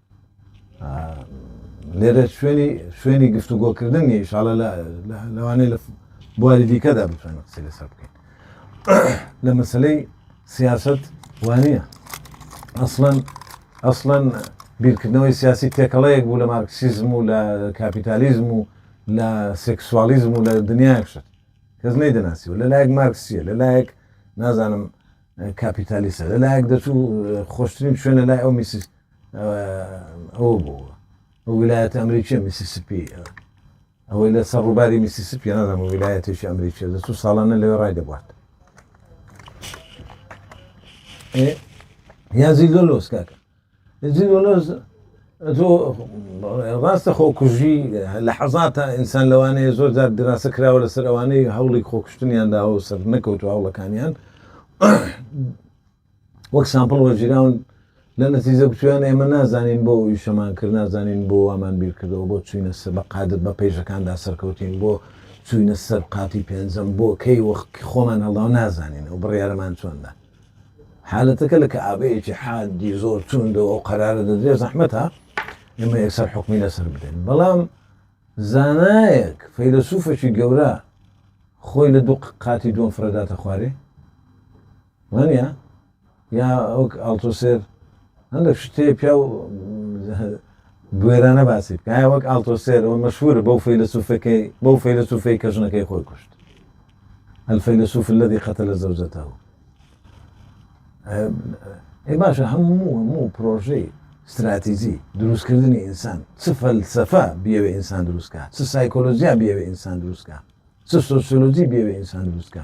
لێرە شوێنی شوێنی گفتوگۆکردن نیە ئیشاڵە لەوانەیە لە بواری دیکەدا بتوانین قسەی لەسەر بکەین لە مەسلەی سیاست وانە ئەسڵەن ئەسڵەن بیرکردنەوەی سیاسی تێکەڵەیەک بوو لە مارکسیزم و لە کاپیتالیزم و لە سێکسوالیزم و لە دنیایەک شت کەس نەی دەناسی و لەلایەک مارکسیە لەلایەک نازانم کاپیتالیسە لەلایەک دەچوو خۆشترین شوێنە لای ئەو میسیست ئەوە بۆ ئەو ویلایەتە ئەمریکیە میسیسپی ئەوەی لە سەر ڕووباری میسیسپی نازم و ویلایەتێکی ئەمریکیە دەست و ساڵانە لەوێ ڕای دەبات یازی لۆلۆس کاکە یازی لۆلۆس تۆ ڕاستە خۆکوژی لە حەزاتە ئینسان لەوانەیە زۆر جار دراسە کراوە لەسەر ئەوانەی هەوڵی خۆکشتنیان داوە سەر نەکەوتو هەوڵەکانیان وەک سامپڵ وەرگیراون لە نەتیجە گوتویان ئێمە نازانین بۆ ئیشەمان کرد نازانین بۆ وامان بیرکردەوە بۆ چوینە سە بە قادر بە پەیژەکاندا سەرکەوتین بۆ چوینە سەر قاتی پێنجەم بۆ کەی وەخت خۆمان هەڵداو نازانین ئەو بڕیارەمان چۆندا حالەتەکە لە کەعبەیەکی حادی زۆر توندەوە ئەو قەرارە دەدرێ زەحمەتە ئێمە یەکسەر حکمی لەسەر بدەین بەڵام زانایەک فەیلسوفەکی گەورە خۆی لە دوو قاتی دووەم فرەداتە خوارێ وانیە؟ یا وەک ئاڵتۆسێر هەندەک شت هەیە پیاو بوێرانە باسی بکە ئایا وەک ئاڵتۆسێر ئەوە مەشهورە بەو فەیلەسوفەکەی بەو فەیلەسوفەی کە ژنەکەی خۆی کوشت الفەیلەسوف الذي قتل زوجته ئێ باشە هەموو هەموو پرۆژەی استراتیزی دروستکردنی ئینسان چ فەلسەفە بیاوێ ئینسان دروستکە چ سایکۆلۆژیا بیاوێ ئینسان دروستکە چ سۆسیۆلۆژی بیاوێ ئینسان دروستکە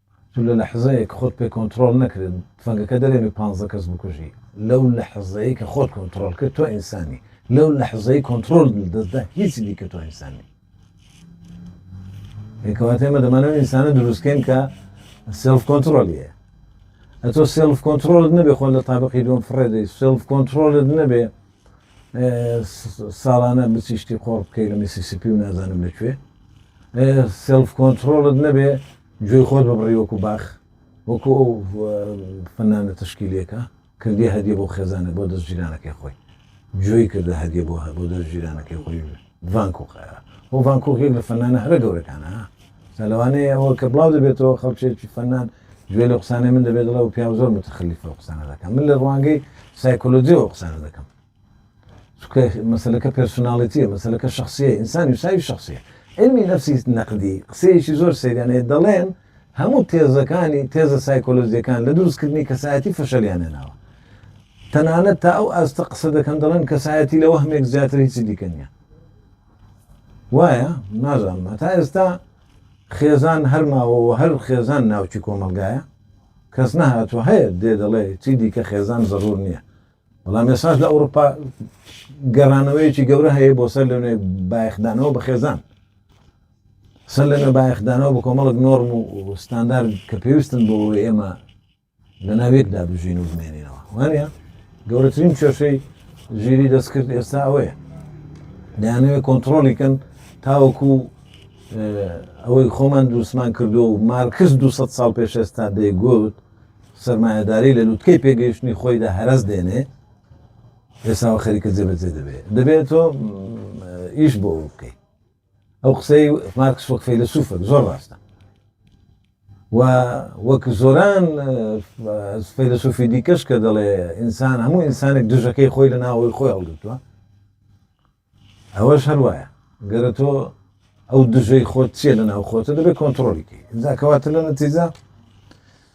تو لە لەحزەیەک کە خۆت پێ کۆنتڕۆڵ نەکرێت تفەنگەکە دەرێنێ پانزە کەس بکوژی لەو لەحزەیەی کە خۆت کۆنتڕۆڵ کرد تۆ ئینسانی لەو لەحزەی کۆنتڕۆڵت لە دەست دا هیچی دیکە تۆ ئینسان نی ئێ کەواتە ئێمە دەمانە ئەو ئینسانە دروستکەین کە سێلف کۆنتڕۆلی هەیە ئەتۆ سێلف کۆنتڕۆلت نەبێ خۆ لە تابقی دوم فڕێدەی سێلف کۆنتڕۆلت نەبێ ساڵانە بچی شتی قۆڕ بکەی لە میسیسیپی و نازانم لەکوێ سلف کۆنتترۆلت نەبێ گوێی خۆت ببڕی وەکو باخ وەکو ئەو فەنانە تشکیلەکە کردی هەدیە بۆ خێزانە بۆ دەست جیرانەکەی خۆی گوێی کردە هەدیە بۆ هە بۆ دەست جیرانەکەی خۆی ڤان کوخ خۆ ڤان کوخ یەک لە فەنانە هەرە گەورەکانە سا لەوانەیە ئەوە کە بڵاو دەبێتەوە خەڵکێکی فەنان گوێ لە قسانەی من دەبێت دڵەوە پیاو زۆر متخلیفە قسانە دەکەم من لە ڕوانگەی سایکۆلۆجیەوە قسانە دەکەم چکە مەسلەکە پرسناڵێتیە مەسلەکە شخصیە ئینسانی ساوی شخصیە علمی نفسی نەقدی قسەیەکی زۆر سریانەیە دەڵێن هەموو تێزەکانی تێزە سایکۆلۆجیەکان لە دروستکردنی کەسایەتی فەشەلیان هێناوە تەنانەت تا ئەو ئاستە قسە دەکەن دەڵێن کەسایەتی لە وەهمێک زیاتر هیچی دیکە نیە وایە نازانمە تا ئێستا خێزان هەرماوەوە هەر خێزان ناوچی کۆمەلگایە کەس نەهاتوە هەیە دێ دەڵێ چی دیکە خێزان زەرور نییە بەڵام مێساش لە ئەوروپا گەڕانەوەیەکی گەورە هەیە بۆ سەر لەێ بایخدانەوە بە خێزان سەر لەنوێ بایەخدانەوە بە کۆمەڵێک نۆرم و ستاندارد کە پێویستن بۆ ئەوەی ئێمە لەناو یەکدا بژین و بمێنینەوە وانە گەورەترین کێشەی ژیری دەستکرد ئێستا ئەوەیە دەیانەوێت کۆنتترۆلیکەن تاوەکو ئەوەی خۆمان دووسمان کردو و مارکس 200 ساڵ پێش ئێستا دەیگوت سرمایهداری لە لوتکەی پێگەیشتنی خۆیدا هەرز دێنێ ئێساوە خەریکە جێبەجێ دەبێت دەبێت تۆ ئیش بۆ بکەیت ئەو قسەی مارکس وەک فەیلەسوفێک زۆر ڕاستە و وەک زۆران فەیلەسوفی دیکەش کە دەڵێ ئینسان هەموو ئینسانێک دژەکەی خۆی لە ناوەوەی خۆی هەڵگرتووە ئەوەش هەر وایە گەرە تۆ ئەو دژەی خۆت چیە لە ناو خۆتە دەبێت کۆنتترۆلیکەی جاکەواتە لە نەتیجا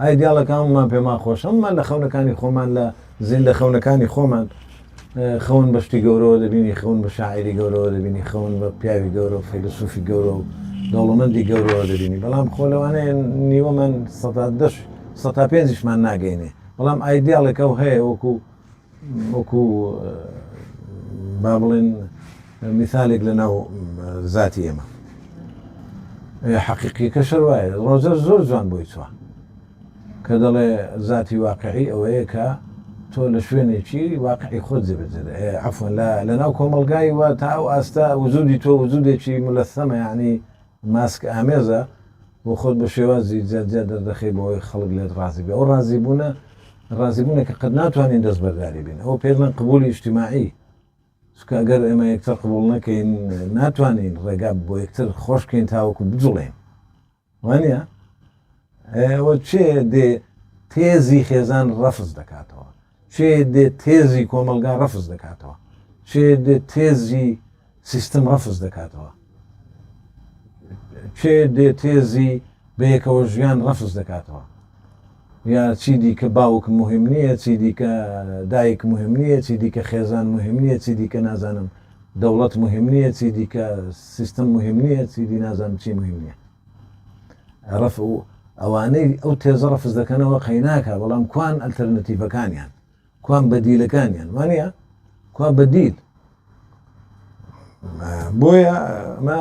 ئای دیاڵەکە هەموومان پێمان خۆش هەموومان لە خەونەکانی خۆمان لە زیندە خەونەکانی خۆمان خەون بە شتی گەورەوە دەبینی خەون بە شاعری گەورەوە دەبینی خەون بە پیاوی گەورە و فەیلسوفی گەورە و دەوڵەمەندی گەورەوە دەبینی بەڵام خۆ لەوانەیە نیوەمان سەداش سە پێنجشمان ناگەینێ بەڵام ئایدیاڵێکە و هەیە وەکو وەکو با بڵێن میسالێک لە ناو زاتی ئێمە ئەی حەقیقیەکە شەر وایە ڕۆزەر زۆر جوان بۆی چوە کە دەڵێ زاتی واقعی ئەوەیە کە تۆ لە شوێنێکی واقعی خۆت جێبەجێ عفوەن لە لەناو کۆمەلگای وە تا ئەو ئاستە وجودی تۆ وجودێکی ملەسەمە یعنی ماسک ئامێزە و خۆت بە شێوازی جیا جیا دەردەخەی بۆ ئەوەی خەڵک لێت ڕازی بێ، ئەو ڕازی بوونە ڕازی بوونێک کە قەت ناتوانین دەستبەرداری بین، ئەوە پێدڵێن قبولی ئیجتیماعی، چونکە ئەگەر ئێمە یەکتر قبوڵ نەکەین ناتوانین ڕێگا بۆ یەکتر خۆش کەین تاوەکو بجوڵێین وانیە؟ ئەوە چێ دێ تێزی خێزان ڕەفز دەکاتەوە چێ دێ تێزی کۆمەڵگا ڕەفز دەکاتەوە، چێ دێ تێزی سیستم ڕەفز دەکاتەوە، چێ دێ تێزی بەیەکەوە ژیان ڕەفز دەکاتەوە، یا چی دیکە باوک مهم نییە، چی دیکە دایک مهم نییە، چی دیکە خێزان مهم نییە، چی دیکە نازانم دەوڵەت مهم نییە، چی دیکە سیستم مهم نییە، چی دی نازانم چی مهم نییە. رف و ئەوانەی ئەو تێزە رەفز دەکەنەوە قەیناکە بەڵام کوان ئەلتەرنەتیڤەکانیان کوان بەدیلەکانیان وانە کوا بەدیل بۆیە ئەمە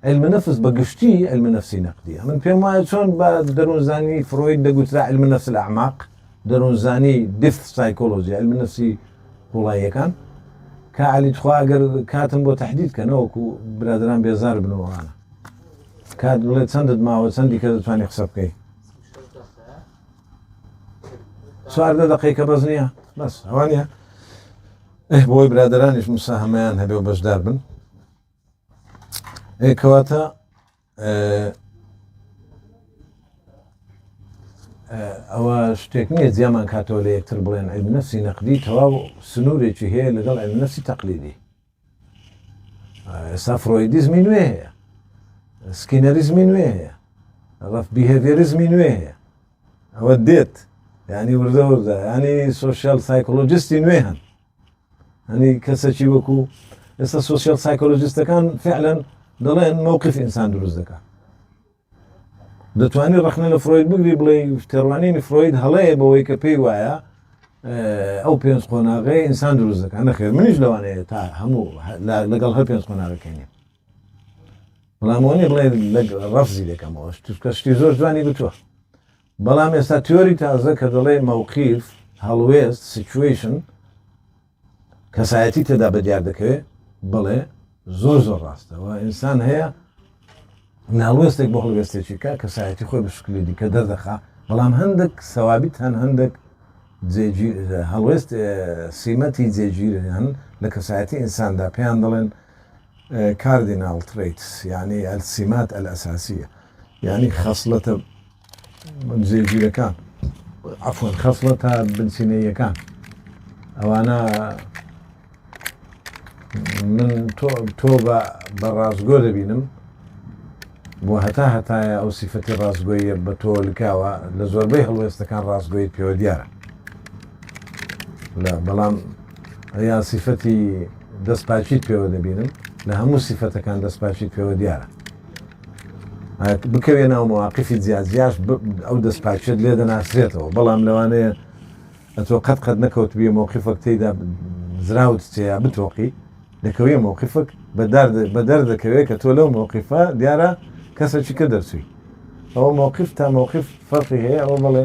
علمە نەفس بە گشتی علمە نفسی نەقدیە من پێم وایە چۆن بە دەروونزانی فرۆید دەگوترا علمە نفس لە ئەعماق دەروونزانی دف سایکۆلۆژی علمە نفسی قوڵاییەکان کە علی تخواگەر کاتم بۆ تهدید کە نەوەکو برادران بێزار بنەوەوانە تکات بڵێ چەندت ماوە چەندی کە دەتوانانی قسە بکەی چواردە دقی کە بەس نییە بەس ئەوانە ئەه بۆی برادرانیش مسا هەمەیان هەبێ و بەشدار بن ئێکەواتە ئەوە شتێک نییە جیامان کاتەوە لە یەکتر بڵێن ئەلنەسی نەقدی تەواو سنوورێکی هەیە لەگەڵ ئەلنەسی تەقلیدی ئێستا فرۆیدیزمی نوێ هەیە سکینەریزمی نوێ هەیە ڕف بیهێڤێریزمی نوێ هەیە ئەوە دێت ینی وردە وردە ینی سوسیال سایکۆلۆجیستی نوێ هەن هەنی کەسەکی وەکو ئێستا سوسیال سایکۆلۆجیستەکان فعلەن دەڵێن مووقف ئینسان دروست دەکات دەتوانی ڕەخنە لە فرۆید بگری بڵێی تێڕوانینی فرۆید هەڵەیە بەوەی کە پێی وایە ئەو پێنج قۆناغەیە ئینسان دروست دەکەن نەخێر منیش لەوانەیە تا هەموو لەگەڵ هەر پێنج قۆناغەکەی نیم بەڵامەوەنی بڵێ ڕفزی دەکەمەوەش توکە شتی زۆر جوانی گوتووە بەڵام ئێستا تیۆری تازە کە دەڵێ مەوقیف هەڵوێست سیچویشن کەسایەتی تێدا بەدیار دەکەوێ بەڵێ زۆر زۆر ڕاستە و ئینسان هەیە ناڵوێستێک بۆ هەڵوێستێکی کە کەسایەتی خۆی بشکلی دیکە دەردەخا بەڵام هەندێک سەوابیت هەن هەندێک هەڵوێست سیمەتی جێگیر هەن لە کەسایەتی ئینساندا پێیان دەڵێن کاردیناڵ تریتس یعنی ئەلسیمات ئەلئساسیە یعنی خەصلەتە جێگیرەکان عەفوەن خەسڵەتە بنچینەییەکان ئەوانە من تۆ بە بە ڕاستگۆ دەبینم بۆ هەتا هەتایە ئەو سیفەتی ڕاستگۆیە بە تۆ لکاوە لە زۆربەی هەڵوێستەکان ڕاستگۆیت پێوە دیارە لە بەڵام یا سیفەتی دەستپاچیت پێوە دەبینم لە هەموو سیفەتەکان دەستپاچیت پێوە دیارە بکەوێ ناو مواقفی جیاجیاش ئەو دەست پاکیت لێ دەناسرێتەوە بەڵام لەوانەیە ئەتۆ قەت قەت نەکەوت بێ مۆقفەک تێدا زراوت تێیا بتۆقی دەکەوێ مۆقفک بە دەر دەکەوێت کە تۆ لەو مۆقفە دیارە کەسەکی کە دەرچووی ئەوە مۆقف تا مۆقف فەرقی هەیە ئەوە بڵێ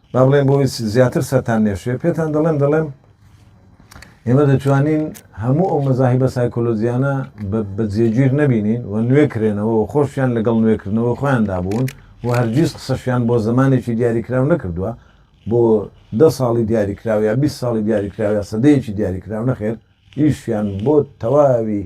با بڵێم بۆ ئیس زیاتر سەرتان نێشێ پێتان دەڵێم دەڵێم ئێمە دەتوانین هەموو ئەو مەزاهیبە سایکۆلۆجییانە بە جێگیر نەبینین و نوێ کرێنەوە و خۆشیان لەگەڵ نوێکردنەوە خۆیاندا بوون و هەرگیز قسەشیان بۆ زمانێکی دیاریکراو نەکردووە بۆ دە ساڵی دیاریکراوە یا 20 ساڵی دیاریکراوە سەدەیەکی دیاریکراو نەخێر ئیشیان بۆ تەواوی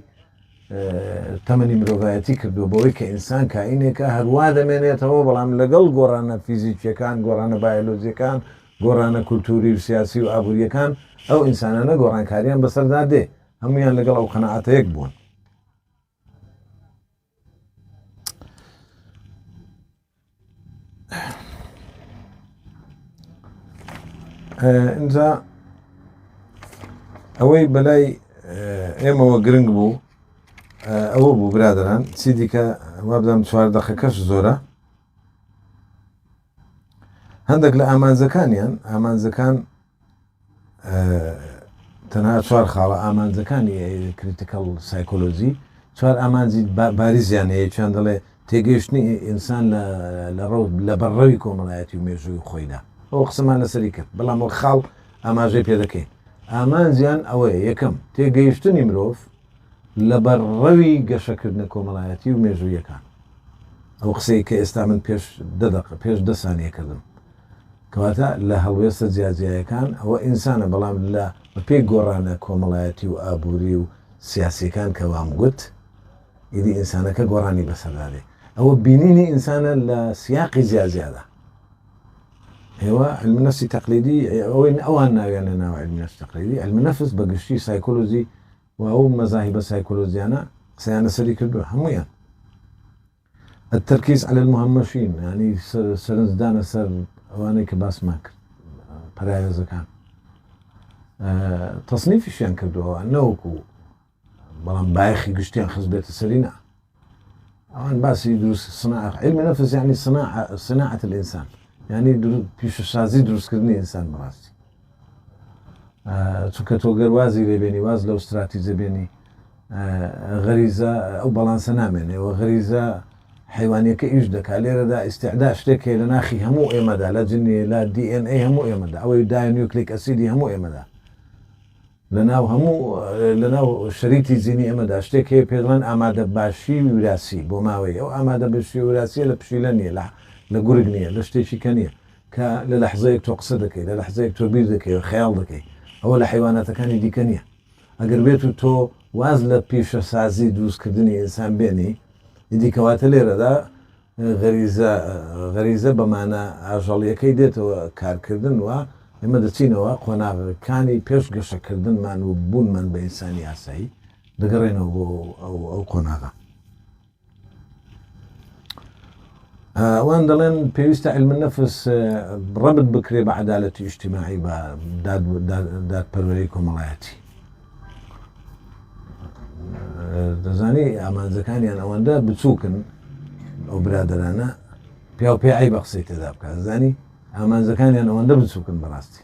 تەمەنی مرۆڤایەتی کردووە بەوەی کە ئینسان کائینێکە هەروا دەمێنێتەوە بەڵام لەگەڵ گۆڕانە فیزیکیەکان گۆڕانە بایلۆزیەکان گۆڕانە کولتوری و سیاسی و ئابوووریەکان ئەو ئینسانانە گۆڕانکاریان بەسەردا دێ هەمویان لەگەڵ ئەو قەنەعاتەیەک بوون ئینجا ئەوەی بەلای ئێمەوە گرنگ بوو ئەوە بوو برادران چی دیکە وابدەم چوار دەخەکەش زۆرە هەندێک لە ئامانجەکانیان ئامانجەکان تەنها چوار خاڵە ئامانجەکانی کریتیکەڵ سایکۆلۆجی، چوار ئامانجی باریزیان هەیە، یەکیان دەڵێ تێگەیشتنی ئینسان لە ڕەوت لە بەرڕەوی کۆمەڵایەتی و مێژووی خۆیدا، ئەوە قسەمان لەسەری کرد، بەڵام وەک خاڵ ئاماژەی پێ دەکەین، ئامانجیان ئەوەیە، یەکەم، تێگەیشتنی مرۆڤ لە بەرڕەوی گەشەکردنە کۆمەڵایەتی و مێژوویەکان، ئەو قسەی کە ئێستا من پێش دە دەقە، پێش دە سانیە کردم. کەواتە لە هەڵوێستە جیاجیایەکان ئەوە ئینسانە بەڵام لە بە پێی گۆڕانە کۆمەڵایەتی و ئابووری و سیاسییەکان کە وام گوت ئیدی ئینسانەکە گۆڕانی بەسەردا دێ ئەوە بینینی ئینسانە لە سیاقی جیاجیادا ئێوە علم نفسی تەقلیدی ئەوەی ئەوان ناویان لە ناوە علم نفس تەقلیدی علم نفس بە گشتی سایکۆلۆژی و ئەو مەزاهی بە سایکۆلۆژیانە قسەیانە سەری کردو هەمویان الترکیز علی المهمشین یانی سەرنج دانە سەر ئەوانەی کە باسمان کرد پەراوێزەکان تەصنیفیشیان کردووە نەوەکو بەڵام بایخی گشتیان خزبێتە سەری نا ئەوان باسی دروست سنا علمی نەفس یعنی سنا سناعەت الانسان یعنی پیشەسازی دروستکردنی ئینسان بەڕاستی چونکە تۆ گەر وازی لێ بێنی واز لەو ستراتیجە بێنی غەریزە ئەو بەڵانسە نامێنێ و غەریزە حیوانیەکە ئیش دەکات لێرەدا ئیسعدا شتێک هەیە لە ناخی هەموو ئێمەدا لە جننی لە دیN ئەی هەموو ئێمەدا ئەوەی دایە نیوکلیک ئەسیدی هەموو ئێمەدا لە ناو هەموو لە ناو شەریتی جینی ئێمەدا شتێک هەیە پێدڵێن ئامادە باشی وراسی بۆ ماوەی ئەو ئامادە بشی وراسی لە پشیلە نیە لە لە گورگ نیە لە شتێکی کە نیە کە لە لەحزەیەک تۆ قسە دەکەی، لە لەحزەیەک تۆ بیر دەکەی و خەیاڵ دەکەی، ئەوە لە حەیواناتەکانی دیکە نییە. ئەگەر بێت و تۆ واز لە پیشەسازی دروستکردنی ئینسان بێنی، ئیدی کەواتە لێرەدا غەریزە، غەریزە بە مانا ئاژەڵییەکەی دێتەوە کارکردن و ئێمە دەچینەوە قۆناغەکانی پێش گەشەکردنمان و بوونمان بە ئینسانی ئاسایی، دەگەڕێینەوە بۆ ئەو قۆناغە. ئەوان دەڵێن پێویستە علم نەفس ڕبت بکرێ بە عدالەتی ئیشتیماعی بە دادپەروەری کۆمەڵایەتی دەزانی ئامانجەکانیان ئەوەندە بچووکن ئەو برادرانە پیا و پێعی بە قسەی تێدا بکە زانی ئامانجەکانیان ئەوەندە بچووکن بەڕاستی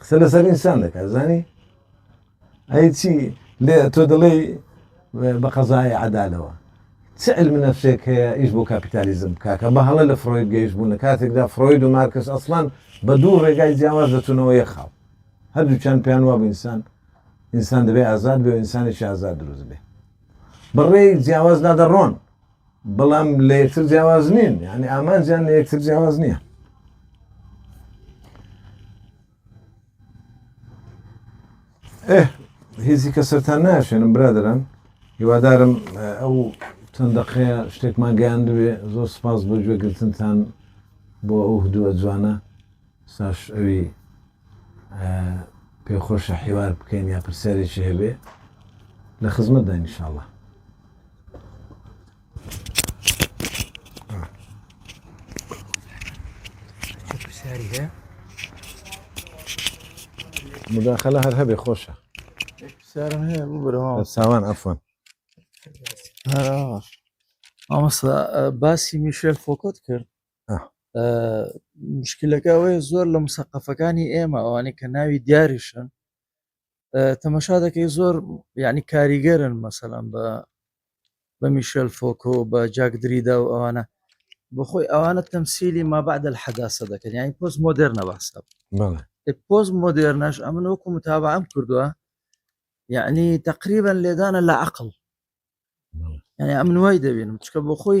قسە لەسەر ئینسان دەکات زانی ئەی چی لێ تۆ دڵێی بە قەزای عدالەوە چ علم نفسێک هەیە ئیش بۆ کاپیتالیزم بکاکە بە هەڵە لە فرۆید گەیش بوون لە کاتێکدا فرۆید و مارکس ئەسلان بە دوو ڕێگای جیاواز دەچونەوە یە خاڵ هەردووچان پێیان واب ئینسان ئینسان دەبێ ئازاد بێ و ئینسانێکی ئازاد دروست بێ بەڕێی جیاوازدا دەڕۆن بەڵام لە یەکتر جیاواز نین یعنی ئامانجیان لە یەکتر جیاواز نییە ئێ هیچی کە سەران ناشێنم برادران هیوادارم ئەو چەند دەقەیە شتێکمان گەیاندوێ زۆر سپاس بۆ گوێگرتنتان بۆ ئەو هدووە جوانە ساش ئەوی پێ خۆشە حیوار بکەین یا پرسیارێکی هەبێ لە خزمەت داین انشاءاللە پرسیاری هەیە مداخلە هەر هەبێ خۆشە پرسیارم هەیە بوو بەرەوە ساوان ئەفۆن هەر ئاواش مامۆستا باسی میشێل فۆکۆت کرد مشکلەکەەوەی زۆر لە مسەقەفەکانی ئێمە ئەوانەی کە ناوی دیاریشن تەمەشا دەکەی زۆر یعنی کاریگەرن مەسەلەن بە بە میشل فۆکۆ بە جاک دریدا و ئەوانە بخۆی ئەوانە تەمسیلی ما بعد الحداسە دەکەن یانی پۆس مۆدررنە باسە پۆز مۆدررنەش ئەمن وەکو متابعام کردووە یعنی تقریبا لێدانە لە عقل یعنی ئەمن وای دەبینم چکە بۆ خۆی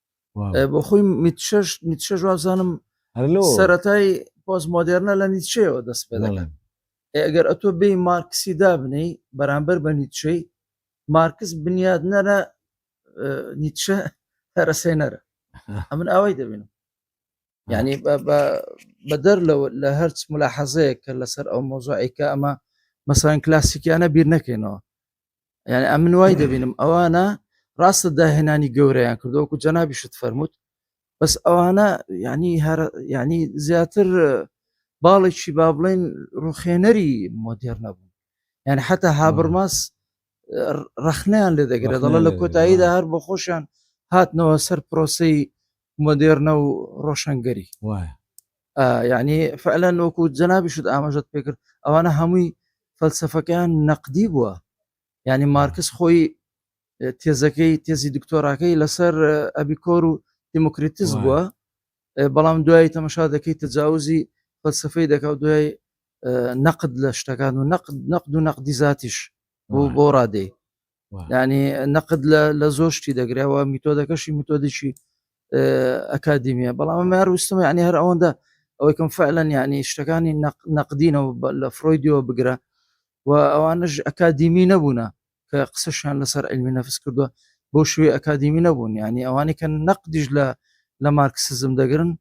بۆ خۆی میتشەش نیتشە جوابزانم سەتای پۆز مۆدررنە لە نیتشەوە دەست پێ دەڵێن ئەگەر ئەتۆ بێ مارکسی دابنەی بەرامبەر بە نیتشەی مارکس بنیاد نەرە نیتشە هەرەسێ نەرە ئەمن ئەوەی دەبینم یعنی بەدەر لە هەرچ ملا حەزەیە کە لەسەر ئەو مۆزۆعیکە ئەمە مەسان کلاسیکیانە بیر نەکەینەوە یعنی ئەمن وای دەبینم ئەوانە ڕاستە داهێنانی گەورەیان کردوەکو جەنابی شت فەرمووت بەس ئەوانە ینی هەر ینی زیاتر باڵێکی با بڵێن ڕوخێنەری مۆدێر نەبوو یعنی حتا هابرماس ڕخنیان لێ دەگرێ دەڵە لە کۆتاییدا هەر بۆ خۆشیان هاتنەوە سەر پرۆسی مۆدێرنە و ڕۆشنگەری وایە یعنی فعلا وەکو جەنابیشت ئاماژەت پێکرد ئەوانە هەمووی فەلسفەکەیان نەقدی بووە ینی مارکس خۆی تێزەکەی تێزی دکتۆراکەی لەسەر ئەبیکۆر و دیموکریتیز بووە بەڵام دوای تەمەشا دەکەی تەجاوزی فەلسفەی دەکات دوای نەقد لە شتەکان و نەقد نەقد و نەقدی زاتیش بۆ بۆ ڕادەی ینی نەقد لە زۆر شتی دەگرەوە میتۆدەکەشی میتۆدیی ئەکادیمیە بەڵام مار وستم ینی هەر ئەوەندە ئەوەی کەم فعلەن ینی شتەکانی نەقدینەوە لە فرۆیدیەوە بگرە و ئەوانش ئەکادیمی نەبوونە کە قسەشیان لەسەر علمی نەفس کردووە بۆ شوێ ئەکادیمی نەبوون ینی ئەوانی کە نەقدیش لە لە مارکسزم دەگرن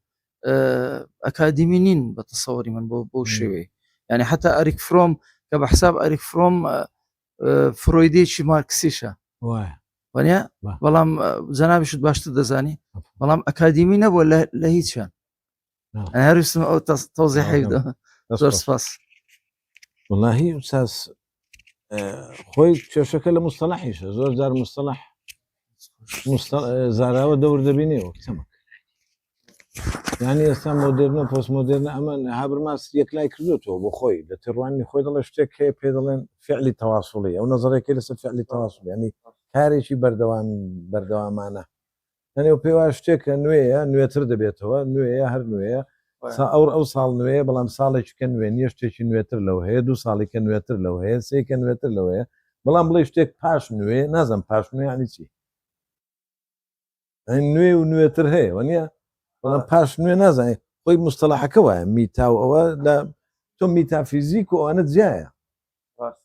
ئەکادیمی نین بە تەسەوەری من بۆ بۆ شێوەیە ینی حتا ئەریک فرۆم کە بە حساب ئەریک فرۆم فرۆیدێکی مارکسیشە وانە بەڵام جەنابیشت باشتر دەزانی بەڵام ئەکادیمی نەبووە لە هیچیان هەرستم ئەو تۆزی حیدا زۆر سپاس واللهی ساس خۆی کێشەکە لە مستەلاحیشە زۆر جار مستەلاح مستە زاراوە دەور دەبینێەوە کچەمە یانی ئێستا مۆدررنە پۆسمۆدررنە ئەمە هابرماس یەکلای کردوێتەوە بۆ خۆی لە تێڕوانی خۆی دەڵێ شتێک هەیە پێ دەڵێن فعلی تەواسڵی ئەو نظرێکی لەسەر فعلی تەواسڵ ینی کارێکی بەردەوام بەردەوامانە هەنێ پێوا شتێکە نوێیە نوێتر دەبێتەوە نوێیە هەر نوێیە سا ئەو ئەو ساڵ نوێیە بەڵام ساڵێکیکە نوێ نیە شتێکی نوێتر لەوە هەیە دوو ساڵیکە نوێتر لەوە هەیە سێکە نوێتر لەوەیە بەڵام بڵێ شتێک پاش نوێ نازم پاش نوێ عنی چی نوێ و نوێتر هەیە وە نیە بەڵام پاش نوێ نازانێت خۆی مستەلاحەکە وایە میتا و ئەوە لە تۆ میتافیزیک و ئەوانە جیایە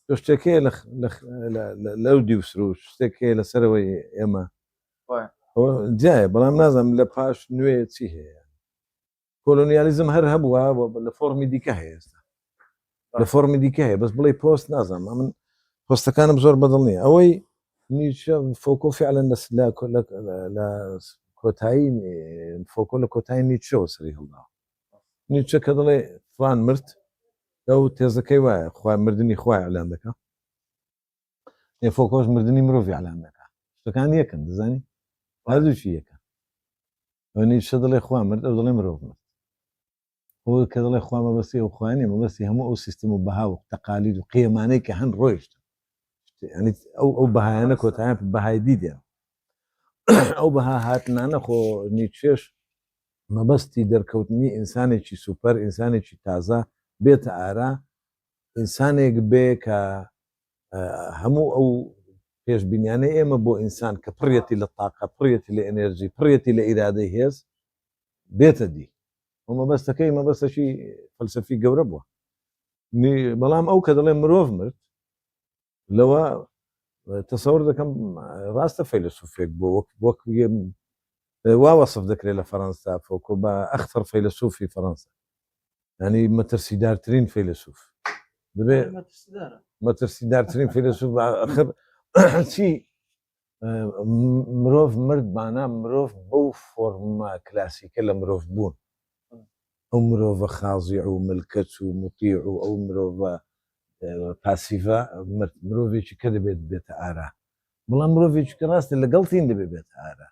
تۆ شتێکەیە لەو دی و سروش شتێکەیە لەسەرەوەی ئێمە جیایە بەڵام نازم لە پاش نوێ چی هەیە کۆلۆنیالیزم هەر هەبووە لە فۆرمی دیکە هەیە ئێستا لە فۆرمی دیکە هەیە بەس بڵێ پۆست نازانم من پۆستەکانم زۆر بەدڵ نیە ئەوەی نیچە فۆکۆ فعلەن لە کۆتایی فۆکۆ لە کۆتایی نیچەوە سەری هەڵداوە نیچە کە دڵێ فلان مرد ئەو تێزەکەی وایە خخوای مردنی خخوای ئەلان دەکە فۆکۆش مردنی مرۆڤ ئەلان دەکە شتەکان یەکەن دەزانی هەردووچی یەکە ئەو نیچە دەڵێ خوا مرد ئەو دەڵێ مرۆڤ مرد ئەو کە دەڵێ خوا مەبەستی ئەو خوانێ مەبەستی هەموو ئەو سیستم و بەها و تەقالید و قێمانەی کە هەن ڕۆیشتن ینی ئەو ئەو بەهایانە کۆتایان بەهای دیدێن ئەو بەها هاتنانە خۆ نیچێش مەبەستی دەرکەوتنی ئینسانێکی سوپەر ئینسانێکی تازە بێتە ئارا ئینسانێک بێ کە هەموو ئەو پێشبینیانەی ئێمە بۆ ئینسان کە پڕیەتی لە تاقە پڕیەتی لە ئەنێرجی پڕیەتی لە ئیرادەی هێز بێتە دی و مەبەستەکەی مەبەستەشی فەلسفی گەورە بووە بەڵام ئەو کە دەڵێ مرۆڤ مرد لەوە تەسەور دەکەم ڕاستە فەیلسوفێک بۆ وەک وەک وا وەصف دەکرێت لە فەەنسا فۆکۆ بە ئەختەر فەیلسوفی فەەنسا ینی مەترسیدارترین فیلسوف دەبێ مەترسیدارترین فیلسوف ئەخر چی مرۆڤ مردمانە مرۆڤ بەو فۆرمە کلاسیکە لە مرۆڤ بوون ئەو مرۆڤە خازیع و ملکەچ و مطیع و ئەو مرۆڤە پاسیڤە مرۆڤێکی کە دەبێت بێتە ئارا بڵام مرۆڤێکی کە ڕاستە لەگەڵتین دەبێت بێت ئارا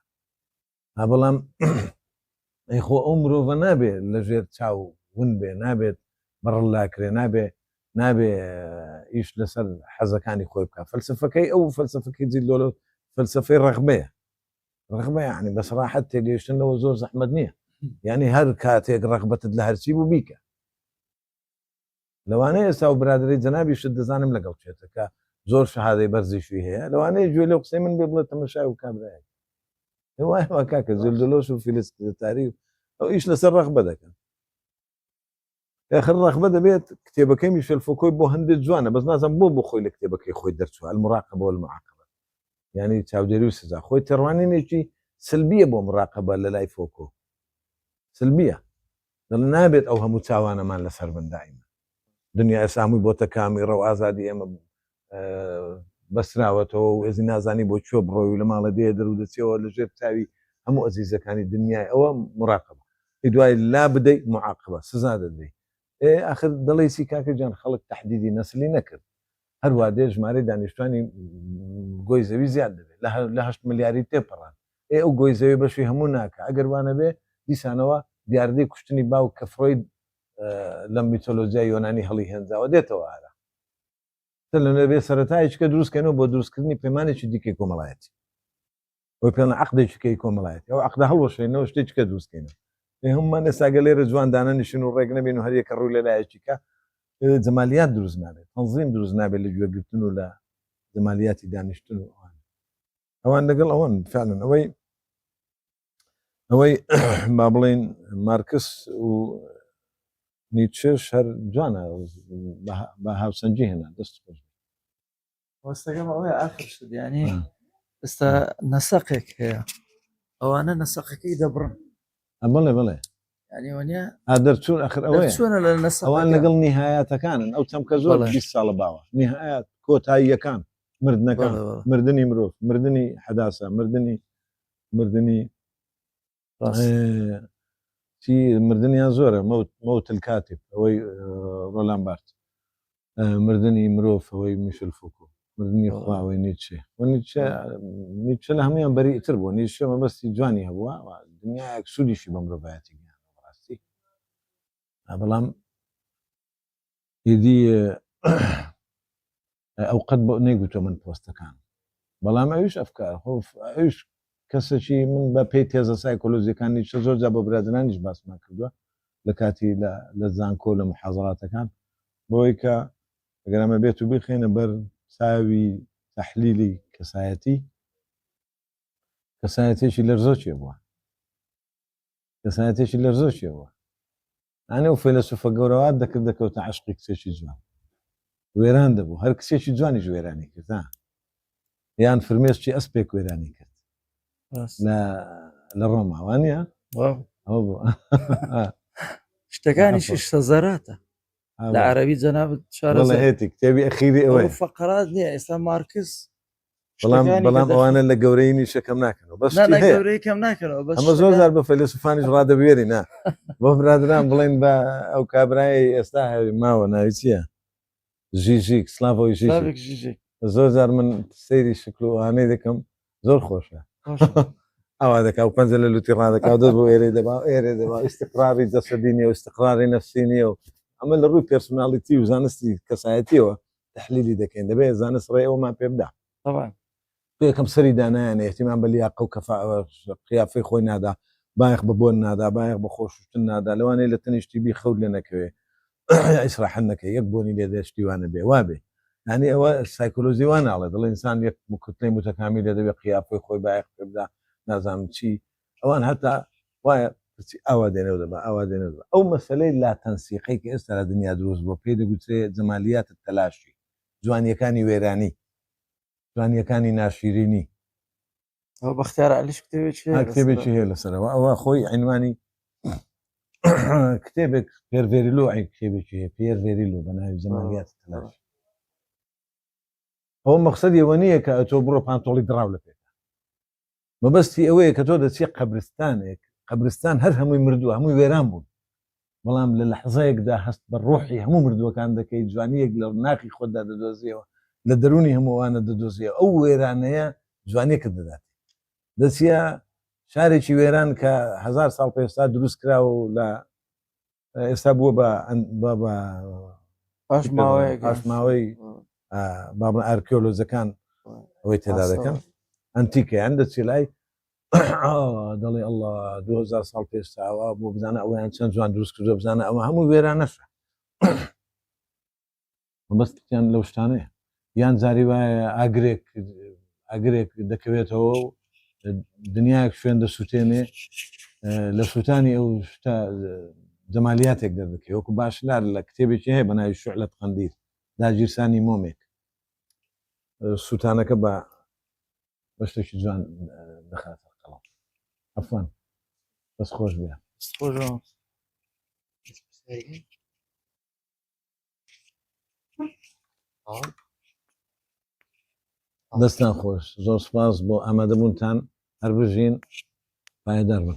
ها بەڵام ئەی خۆ ئەو مرۆڤە نابێ لە ژێر چاو ون بێ نابێت بەڕلاکرێ نابێ نابێ ئیش لەسەر حەزەکانی خۆی بکە فەلسفەکەی ئەو فەلسفەکەی جیلۆلە فەلسفەی ڕغبەیە ڕغبە یعنی بەسراحەت تێگەیشتنەوە زۆر زەحمت نییە یعنی هەر کاتێک ڕغبەتت لە هەرچی بوو بیکە لەوانەیە ئێستا و برادری جەنابیشت دەزانم لەگەڵ چێتە کە زۆر شەهادەی بەرزیشی هەیە لەوانەیە گوێ لە قسەی من بێ بڵێت تەمەشای و کابراەک کاکە زلدلۆش و فیلستاری ئەو ئیش لەسەر ڕەخبە دەکەن خر ڕەخبە دەبێت کتێبەکەی میشل فۆکۆی بۆ هەندێک جوانە بەس نازم بۆ بۆ خۆی لە کتێبەکەی خۆی دەرچوە المراقە بۆ المعقبە ینی چاودێری و سزا خۆی تێڕوانینێکی سلبیە بۆ مراقبە لە لای فۆکۆ سلبیە دەڵێ نابێت ئەو هەموو چاوانەمان لەسەر بن دائیما دنیا ئێستا هەمووی بۆتە کامیڕە و ئازادی ئێمە بەسراوەتەوە و ئێزی نازانی بۆ کوێ بڕۆی و لە ماڵە دێ دەرودەچەوە لە ژێر چاوی هەموو ئەزیزەکانی دنیای ئەوە مراقبە ئی دوای لا بدەی معاقبە سزا دەدەی ئێ ئاخر دڵیسی کاکە جان خەڵک تهدیدی نەسلی نەکرد هەر وا دێت ژمارەی دانیشتوانی گۆی زەوی زیاد دەبێت لە هەشت ملیاری تێپەڕان ئێ ئەو گۆی زەوی بەشی هەموو ناکا ئەگەر وا نەبێ دیسانەوە دیاردەی کوشتنی باوک کە فرۆید لە میتۆلۆجیای یۆنانی هەڵی هێنجاوە دێتەوە ئارا تەلەنەبێ سەرەتایەکە دروستکەنەوە بۆ دروستکردنی پەیمانێکی دیکەی کۆمەڵایەتی. بۆ پێڵ عقدێکیکەی کۆمەڵایەت ئەو عقدا هەڵوەشێنەوە شتێککە دروستکەینەوە هەممان ئێساگە لێرە جوان دانەنیشن و ڕێک نەبین و هەریەکە ڕوو لە لایەکیکە جەمالیات دروست نابێت تەنظیم دروست نابێت لە گوێگرتن و لە جەمالیاتی دانیشتن و ئەوان ئەوان لەگەڵ ئەوان فعلن ئەوەی ئەوەی با بڵین مارکس و نیچێش هەر جوانە بە هاوسەنجی هێنا دەست خۆش وەستەکەم ئەوەیە ئاخر شت یعنی ئێستا نەسەقێک هەیە ئەوانە نەسەقەکەی دەبڕن ئە بڵێ بڵێ یعنی وەنیا ئا دەرچوون ئەخر ئەوەیە دەرچوونە لە نەسەقەکە. ئەوان لەگەڵ نیهایەتەکانن ئەو چەمکە زۆر بەڵێ. 20 ساڵە باوە نیهایەت کۆتاییەکان مردنەکان بەڵێ، بەڵێ. مردنی مرۆڤ مردنی حەداسە مردنی مردنی چی مردنیان زۆرە مەوت مەوتل کاتب ئەوەی ڕۆلان بارت مردنی مرۆڤ ئەوەی میشل فوکو مردنی خواوەی نیچێ نیچە نیچە لە هەمویان بەریتر بوو نیشە مەبەستی جوانی هەبووە دنیایەک سوودیشی بە مرۆڤایەتی ڕاستی بەڵام ئیدی ئەو قەت بۆ نەیگوتۆ من پۆستەکان بەڵام ئەوش ئەفکار خۆ ئەوش کەسەکی من بە پێی تێزە سایکۆلۆژیەکانی شە زۆر جا بە برادرانیش باسمان کردووە لە کاتی لە زانکۆ لە محازڕاتەکان بۆی کە گەرامە بێت و بخێنە بەر چاوی تحلیلی کەسایەتی کەسایەتێکی لەرزۆکێ بووە کەسایەتێکی لەرزۆکێ بووە ئەنێ و فەیلەسوفە گەورەوات دەکرد دەکەوتە عشقی کچێکی جوان وێران دەبوو هەر کچێکی جوانیش وێرانی کرد یان فرمێشتی ئەسپێک وێرانی کرد لە ڕۆماوانە شتەکانیشی سەزەراتە لە عربی جەنابەت شارەزێتی کتێبی ئەخیری ئەوەی فقرات نیە ئێستا مارکس بەڵام بەڵام ئەوانە لە گەورەی نیشەکەم ناکەنەوە بەس گەورەیکەم ناکەنەوە بەس ئەمە زۆر زار بە فەلسفانیش ڕادەبێری نا بۆ برادران بڵێن بە ئەو کابرای ئێستا هەوی ماوە ناوی چییە ژیژیک سلاڤۆی ژیژیک زۆر زار من سەیری شکلوانەی دەکەم زۆر خۆشە ئەوا دەکا و پەنجە لە لوتی ڕادەکا دەست بۆ ئێرە دەبا ئێرە دەبا ئیسقراری دەسەدینی و ئیسقراری نەفسینیە و ئەمە لە ڕووی پرسناڵیتی و زانستی کەسایەتیەوە تحلیلی دەکەین دەبێت زانست ڕێ ئەومان پێ بدا طبعا یەکەم سەری دانایانە احتیمان بە لیاقە و کەفا قیافەی خۆی نادا بایەخ بە بۆن نادا بایەخ بە خۆشتن نادا لەوانەیە لە تەنیشتی بی خەوت لێ نەکەوێ ئیسراحەت نەکە یەک بۆنی لێ دەشتیوانە بێ وابێ ینی ئەوە سایکۆلۆزی واناڵێ دڵ ئینسان یەک مکوتنەی متەکامی لێ دەبێت قیافەی خۆی بایەخ پێ بدا نازانم چی ئەوان هەتا وایە پرسی ئاوا دێنێ و دەبا ئاوا دێنێ و دەبا ئەو مەسەلەی لا تەنسیقەی کە ئێستا لە دنیا دروست بووە پێی دەگوترێ جەمالیات تەلاشی جوانیەکانی وێرانی جوانیەکانی ناشیرینی ئەو بەختیار علیش کتێبێکی هەیە لەسەر. کتێبێکی هەیە لەسەرەوە ئەوە خۆی عینوانی کتێبێک پێرڤێریلو ئەی کتێبێکی هەیە پێرڤێریلو بە ناوی جەمالیات تەلاش ئەو مەقصد ئەوە نییە کە ئەتۆ بڕۆ پانتۆڵی دراو لە پێ مەبەستی ئەوەیە کە تۆ دەچی قەبرستانێک قەبرستان هەر هەمووی مردووە هەمووی وێران بوون بەڵام لە لەحزەیەکدا هەست بە ڕۆحی هەموو مردووەکان دەکەی جوانیەک لە ناخی خۆتدا دەدۆزیەوە لە دەرونی هەمووانە دەدۆزیە ئەو وێرانەیە جوانیەکە دەدات دەچە شارێکی وێران کە هزار ساڵ پێستا دروست کراوە و لە ئێستا بووە بە پاش ماوەی بابن ئارکیۆلۆجەکان ئەوەی تێدا دەکەن ئەنتیکەیان دەچی لای دەڵێ ئەله 2000 ساڵ پێشتاوە بۆ بزانە ئەویان چەند جوان دروست کردو بزانە ئەوە هەموو وێرانەشە مەبەستیان لەو شتانەیە یان جاری وایە ئاگرێک ئاگرێک دەکەوێتەوە و دنیاەک شوێن دەسووتێنێ لە سووتانی ئەو شتا جەمالیاتێک دەردەکە وەکو باشلار لە کتێبێکی هەیە بە ناوی شعلت قندیل داگیرسانی مۆمێک سووتانەکە بە بە شتێکی جوان دەخاتە قەڵام ئەفان بەس خۆش بێ خۆش دەستان خۆش زۆر سپاس بۆ ئامادەبوونتان هەر بژین پایدار بن